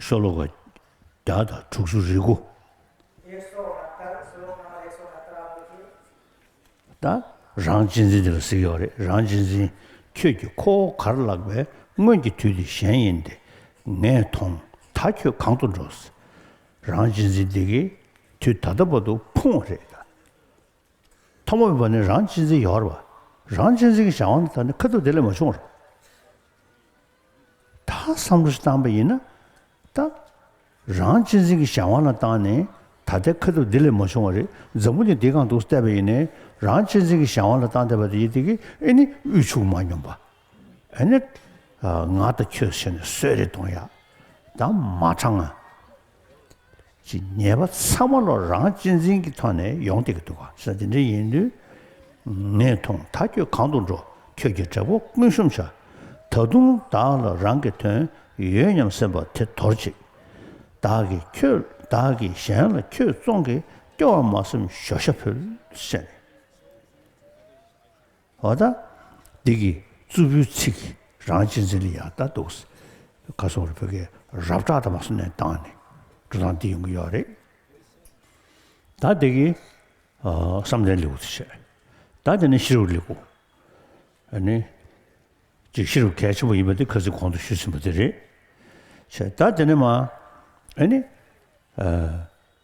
ཤོ་ལོ་ཀ་བརྒྱ་དང་དྲུག་ཅུ་རེ་དགུ། ད་རང་གཅེས་འཛིན་དེ་ལ་གཟིགས་ཡོད་རེད་རང་གཅེས་འཛིན་ཁྱོད་ཀྱིས་ཁོ་བོ་གར་བརླག་པའི་སྔོན་གྱི་དུས་དེ་གཞན་ཡིན་ཏེ་ངས་མཐོང་ད་ཁྱོད་གང་དུ་འགྲོ་ཟེར་རང་གཅེས་འཛིན་དེ་གིས་དུས་ད་ལྟ་བར་དུ་ཕུང་བ་རེད་ད་མཐའ་མ་བར་ནི་རང་གཅེས་འཛིན་ཡོད་རེད་རང་གཅེས་འཛིན་གྱི་བྱ་བ་འདི་ད་ནི་ཁ་ཐུག་དེ་ལས་མ་བྱུང་རེད། དག་བསམ་བློ་བཏང་པ་ཡིན་ན། ད། རང་གཅེས་འཛིན་གྱི་བྱ་བ་ལ་བཏང་ནས་ད་ལྟའི་ཁ་ཐུག་འདི་ལས་མ་བྱུང་བ་རེད་འཛམ་བུ་འདི་འདི་གང་འདུག་བལྟས་པ་ཡིན་ནས་རང་གཅེས་འཛིན་གྱི་བྱ་བ་ལ་བཏང་བལྟས་པ་དེ་ཡི་དེ་གི་ཨེ་ནི་དབུལ་ཕྱུག་མ་སྙོམས་པ་ཨེ་ནི། ང་དང་ཁྱོད་ཟེར་ནས་གསོད་རེ་གཏོང་ཡག་ད་མ་དྲང་ང། ཀྱི་ཉེས་པ་ཚང་མ་ལོ་རང་གཅེས་འཛིན་གྱི་ཐོག་ནས་ཡོང་སྡད་ཀྱི་འདུག་ག་ས་དེ་འདྲ་ཡིན་དུས། ངས་མཐོང་ད་ཁྱོད་གང་དུ་འགྲོ་ཁྱོད་ཀྱི་གྲལ་སྒོ་ཀུན་གཤོམ་བྱ། ད་དུང་བདག་ལ་རང་གི་དོན་ཡོད་སྙམ་སེམས་པ་དེ་དོར་ཅིག། བདག་གིས་ཁྱོད་བདག་གིས་གཞན་ལ་ཁྱོད་བཙོང་གིས་སྐྱོ་བ་མ་སེམས་ཞོ་ཤ་ཕུལ་བཤད་ནས། ཨོ་ད། འདི་གི་རྩུབ་པོའི་ཚིག་རང་གཅེས་འཛིན་ལ་ཡག་ད་འདུག། ག་སོང་རེད་བོད་སྐད་རབ་དྲག་ད་མ་སོང་ནས་བཏང་ནས་འགྲོ་སྟངས་འདི་ཡོང་གི་ཡོད་རེད། ད་འདི་གི་བསམ་གཏན་ལེའུ་དེ་བཤད། ད་འདི་ནི་ཤེས་རབ་ལེའུ། ཨ་ནི། ཅིག་ཤེས་རབ་གལ་ཆེན་པོ་ཡིན་པ་འདི་ག་ཚོད་གོང་དུ་ཞུས་ཟིན་པ་དེ་རེད། བཤད། ད་འདི་ནི་མ། ཨ་ནི།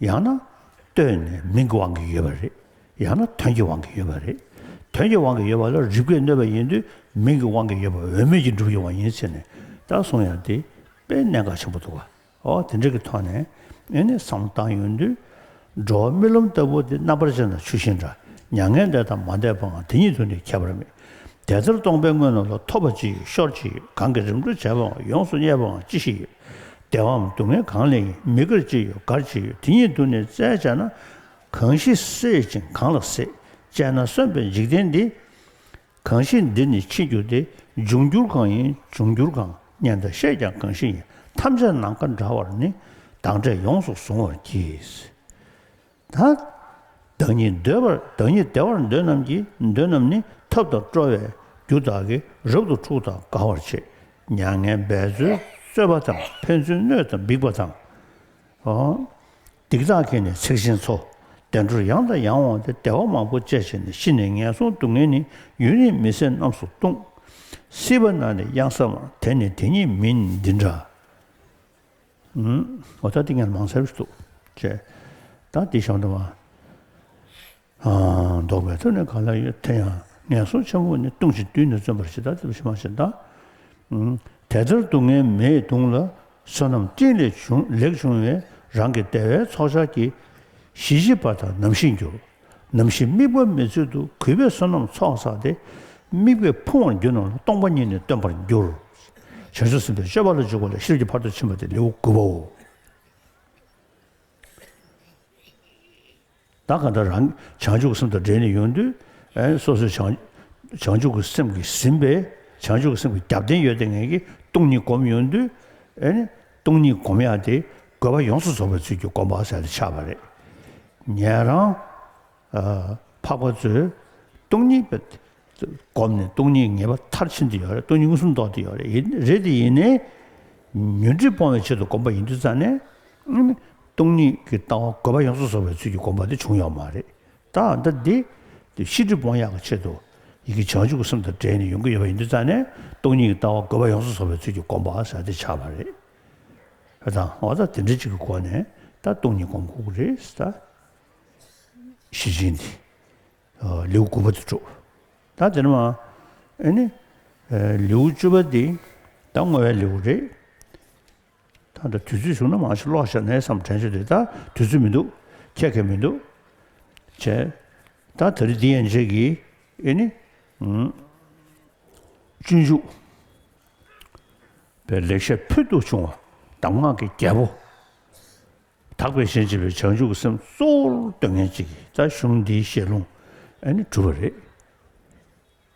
ཡང་ན་ལྟོས་ནས་མིང་གི་དབང་གིས་ཡོད་པ་རེད། ཡང་ན་དོན་གྱི་དབང་གིས་ཡོད་པ་རེད། དོན་གྱི་དབང་གིས་ཡོད་པ་ལ་རིགས་པས་གནོད་པ་ཡིན་དུས་མིང་གི་དབང་གིས་ཡོད་པ་འོས་མེད་ཀྱི་སྒྲུབ་ཡོང་བ་ཡིན་ཟེར་ནས་ད་གསུངས་ཡང་དེ་དཔེ་གནད་འགག་ཆེན་པོ་འདུག་ག་འོ་དེ་འདྲ་གི་ཐོག་ནས་ཨེ་ནས་བསམ་བཏང་ཡོང་དུས། འགྲོ་བ་རྨི་ལམ་ལྟ་བུ་དེ་རྣམ་པར་ཅན་དང་ཆུ་ཤིང་འདྲ་མྱ་ངན་འདས་དང་མ་འདས་པའང་དེ་ཉིད་དུ་ནི་ཁྱད་པར་མེད། དེ་ལྟར་སྟོང་པའི་དངོས་རྣམས་ལ་ཐོབ་པ་ཅི་ཡོད་ཤོར་ཅི་ཡོད་གང་གིས་རིམ་གྲོ་བྱས་པའང་ཡོངས་སུ་བརྙེས་པའང་ཅི་ཞིག་ཡོད། བདེ་བའམ་སྡུག་བསྔལ་གང་ལས་ཡིན་མི་དགར་ཅི་ཡོད་དགར་ཅི་ཡོད་དེ་ཉིད་དུ་ནི་བཙལ་བྱས་ན། གང་ཞིག་སྲེད་ཅིང་གང་ལ་སྲེད་བཅས་ན་གསོན་པའི་འཇིག་རྟེན་འདི། གང་ཞིག་འདིར་ནི་འཆི་འགྱུར་ཏེ་འབྱུང་འགྱུར་གང་ཡིན་འབྱུང་འགྱུར་གང་སྙན་དང་ཤེས་ཀྱང་གང་ཞིག་ཡིན་ཐམས་ཅད་ནམ་མཁའ་འདྲ་བར་ནི་བདག་འདྲས་ཡོངས་སུ་གཟུང་བར་གྱིས། དང། བདག་ཉིད་འདོད་པར་བདག་ཉིད་བདེ་བར་འདོད་རྣམས་ཀྱིས་འདོད་རྣམས་ནི་ཐབས་དང་སྤྲོ་བའི་རྒྱུ་དག་གིས་རབ་ཏུ་འཁྲུགས་དང་དགའ་བར་བྱེད། མྱ་ངན་འབད་རྩོལ་རྩོད་པ་དང་ཕན་ཚུན་གནོད་དང་འབིགས་པ་དང། སྡིག་དག་གིས་ནི་འཚིག་ཅིང་འཚོ། བདེ་འགྲོར་ཡང་དང་ཡང་འོང་སྟེ་བདེ་བ་མང་པོ་སྤྱད་བྱས་ནས་ཤི་ནས་ངན་སོང་སྡུག་བསྔལ་ནི་ཡུན་རིང་མི་ཟད་རྣམས་སུ་ལྟུང། སྲིད་པ་ན་ནི་གཡང་ས་མ་དེ་ནི་དེ་ཉིད་མིན་འདི་འདྲ། ཨོ་ད་ཏི་ངས་མང་ཚ་རུ་འདུག། ཅེས་ད་ཏི་ཞང་དུ་མ། ཨང། འདོགས་པའི་ཐོད་ནི་ག་ལ་ཡོད་དེ་ཡང་ངན་སོང་ཆེན་པོ་ནི་ལྟུང་བྱེད་བདུད་ནི་བརྩོན་པར་བྱེད་ད་ཏི་བྱེད་མ་བྱེད་ད། དེ་ལྟར་སྡུག་བསྔལ་མེའི་གདུང་ལ་བསོད་ནམས་སྤྲིན་ལས་བྱུང་ལེགས་བྱུང་བའི་རང་གི་བདེ་བའི་ཚོགས་ཆར་གྱིས་གཞི་བྱེད་པ་དང་ནམ་ཤི་འགྱུར། ནམ་ཞིག་དམིགས་པ་མེད་ཚུལ་དུ་གུས་པས་བསོད་ནམས་ཚོགས་བསགས་ཏེ། དམིགས་པའི་ཕུང་བར་གྱུར་ན་སྟོང་པ་ཉིད་ནི་སྟོན་པར་འགྱུར། བྱང་ཆུབ་སེམས་དཔའི་སྤྱོད་པ་ལ་འཇུག་པ་ལ་ཤེར་གྱི་བར་དུ་ཕྱིན་པ་སྟེ་ལེའུ་དགུ་པའོ། བདག་གང་དག་རང་གི་བྱང་ཆུབ་ཀྱི་སེམས་དང་འབྲེལ་ནས་ཡོང་དུས། སོ་སོའི་བྱང་ཆུབ་ཀྱི་སེམས་ཀྱིས་ཟིན་པས་བྱང་ཆུབ་ཀྱི་སེམས་ཀྱི་རྒྱབ་རྟེན་ཡོད་དེ་ངེད་ཀྱིས་སྟོང་ཉིད་བསྒོམ་ཡོང་དུས། སྟོང་ཉིད་བསྒོམ་ཡག་སྟེ་དགོས་པ་ཡོངས་སུ་རྫོགས་པའི་ཚུལ་གྱིས་བསྒོམ་པ་གསལ་དུ་འཆར་བ་རེད། ཉན་རང། འཕགས་པ་ཚོས་སྟོང་ཉིད་བསྒོམས་ནས་སྟོང་ཉིད་ངེས་པ་མཐར་ཕྱིན་དུ་ཡོང་རེད་སྟོང་ཉིད་མངོན་སུམ་རྟོགས་དུ་ཡོང་རེད་དེ་ཡིན་ནས། ཉོན་སྒྲིབ་སྤོང་བའི་ཆེད་དུ་བསྒོམ་པ་ཡིན་དུས་རྩ་ནས། སྟོང་ཉིད་ཀྱི་ལྟ་བ་དགོས་པ་ཡོངས་སུ་རྫོགས་པའི་ཚུལ་གྱིས་བསྒོམ་པ་དེ་བྱུང་ཡོད་མ་རེད། དང་ལྡན་ཏེ། དེ་ཕྱིར་འབྲི་སྤོང་གཡག་གི་ཆེད་དུ། ཡི་གེ་བྱང་ཆུབ་ཀྱི་སེམས་དང་བྲལ་ནས་ཡོང་གི་ཡོད་པ་ཡིན་དུས་རྩ་ནས་སྟོང་ཉིད་ཀྱི་ལྟ་བ་དགོས་པ་ཡོངས་སུ་བཟོ་བའི་ཚུལ་གྱི་སྒོམ་པ་ཟ་འདི་ཆགས་པ་རེད་ད། དང་བ་ད་དེ་འདྲ་གཅིག་གི་སྒོ་ནས་ད་སྟོང་ཉིད་སྒོམ་ཁུག་རེད་ད། གཞི་ཅན་འདི། ལེའུ་དགུ་པ་དེ་གྲུབ། ད་དེ་ནི། ཨེ་ནི། ལེའུ་བཅུ་པ་འདི། ད་བསྔོ་བའི་ལེའུ་རེད། ད་ལྟ་དུས་ཚོད་བྱུང་ན་མང་ཆེ་ལོག་ཤར་ནས་སམ་དྲན་ཤོག་དེ་ལྟར་དུས་ཚོད་མི་འདུག་ཁྱད་མཁས་མི་འདུག་བྱས། ད་ད་རེ་འདི་ཡན་ཆད་ཀྱི་ཨེ་ནི། སྤྱོད་འཇུག་པའི་ལེགས་བཤད་ཕུལ་དུ་བྱུང་བ་གདམས་ངག་གི་རྒྱལ་པོ། དག་པའི་ཞེན་བྱེད་པའི་བྱང་ཆུབ་ཀྱི་སེམས་གཙོ་བོར་བཏོད་ངན་ཅིག་གིས་རྩ་གཞུང་འདིའི་བཤད་ལུང་ཨེ་ནི་གྲུབ་པ་རེད།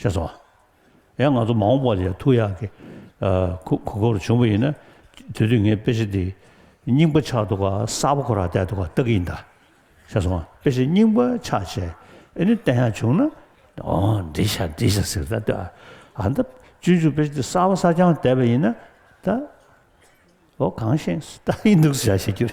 ཞེས་སོ། ཡང་ང་ཚོ་མ་འོངས་པར་ཡང་ཐུགས་ཡག་གི་གུ་གུར་འབྱུང་པོ་ཡིན་ན་དེ་དུས་ངའི་དཔེ་ཆ་འདི་རྙིང་པ་ཆགས་འདུག་ག་གསར་པ་ཁོ་རང་བལྟས་འདུག་ག་ལྟ་གི་ཡིན་ད། ཞེས་སོང་དཔེ་ཆ་རྙིང་པ་ཆགས་ཆེ་ཨེ་ནི་བལྟས་ཡག་བྱུང་ན། འོ་འདི་ཆ་འདི་ཆ་ཟེར་ད་ལྟོས་ཨ་ཨ་ད་སྤྱོད་འཇུག་དཔེ་ཆ་འདི་གསར་བ་གསར་རྐྱང་བལྟས་པ་ཡིན་ན་ད། འོ་གང་ཤེས་ད་ཡིན་འདུག་ཟེར་བྱ་ཞེས་གྱུར།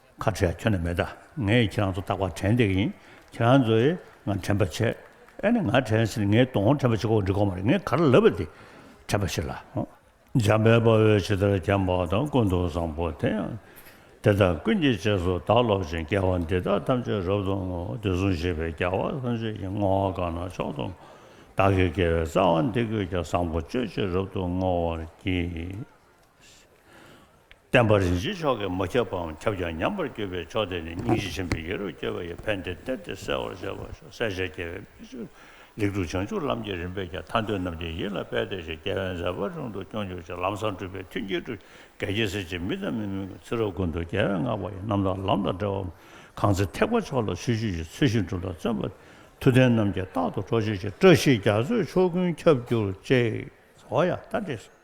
ཁ་བྲལ་ཁྱོད་ནས་མེད། ངས་ཁྱེད་རང་ཚོ་རྟག་པར་དྲན་འདེགས་ཡིན། ཁྱེད་རང་ཚོས་ང་དྲན་པར་བྱེད། ཨེ་ནས་ང་དྲན་ཟེར་ངའི་གདོང་དྲན་པར་བྱེད་ཁོ་བོ་འབྲི་གོང་མ་རེད་ངས་ག་རེ་ལབ་པ་དེ་དྲན་པར་བྱེད་ལ། འཇམ་པའི་དཔའ་བོས་ཇི་ལྟར་བསྐྱངས་པ་དང་ཀུན་ཏུ་བཟང་པོ་དེ་ཡང་དེ་ལྟར་ཀུན་གྱི་རྗེས་སུ་བདག་སློབ་ཅིང་སྐྱེ་བ་འདི་དག་ཐམས་ཅད་རབ་ཏུ་བསྔོ་བ་དེ་ཟུང་ཤེས་པའི་རྒྱལ་བ་སངས་རྒྱས་ཀྱི་བསྔོ་བ་གང་ན་མཆོག་ཏུ་བསྔོ། བདག་གི་དགེ་བའི་རྩ་བ་འདི་ཀུན་ཀྱང་བཟང་པོ་སྤྱོད་ཅིང་རབ་ཏུ་བསྔོ་བར་བགྱི། བསྟན་པ་རིན་ཆེན་མཆོག་གིས་མ་ཁྱབ་པའང་ཁྱབ་ཀྱང་ཉམས་པར་གྱུར་པའི་ཕྱོགས་དེ་ནི་སྙིང་རྗེ་ཆེན་པོའི་ཡེ་རུ་སྐྱེ་བ་ཡི་ཕན་བདེ་སྟེར་ཏེ་གསལ་བར་བྱེད་པ་ཞོ་གསལ་བྱེད་རྒྱལ་བའི་སྨིན་གྲོལ་ལེགས་གྲུབ་བྱང་ཆུབ་ལམ་གྱི་རིམ་པས་ཀྱང་མཐའ་འདུལ་རྣམས་ཀྱི་ཡིད་ལ་དཔལ་སྟེར་ཞིང་རྒྱལ་བའི་མཛད་པ་རུང་དུ་སྐྱོང་གྱུར་ཅིག་ལམ་བཟང་སྤྲུལ་པའི་མཐུས་འགྱེད་གྲོལ་གྱི་རྒྱལ་གྱི་སྲས་ཀྱི་མི་དང་མི་མིན་གྱི་ཚེ་རབས་ཀུན་ཏུ་རྒྱལ་བའི་བསྔགས་པ་ཡི་རྣམ་དག་ལམ་དང་འབྲེལ་བའམ་གང་ཚེ་ཐེག་པ་མཆོག་ལ་ཆོས་བཅུ་ཡི་ཚུལ་བཞིན་སྒྲུབ་ལ་བརྩོན་པ། མཐུ་ལྡན་རྣམས་ཀྱིས་རྟག་ཏུ་གྲོགས་བྱེད་ཅིག་བཀྲ་ཤིས་རྒྱ་མཚོའི་ཕྱོགས་ཀུན་ཁྱབ་གྱུར་ཅིག། ཧོ་ཡ། ད་འདྲེས་སོ།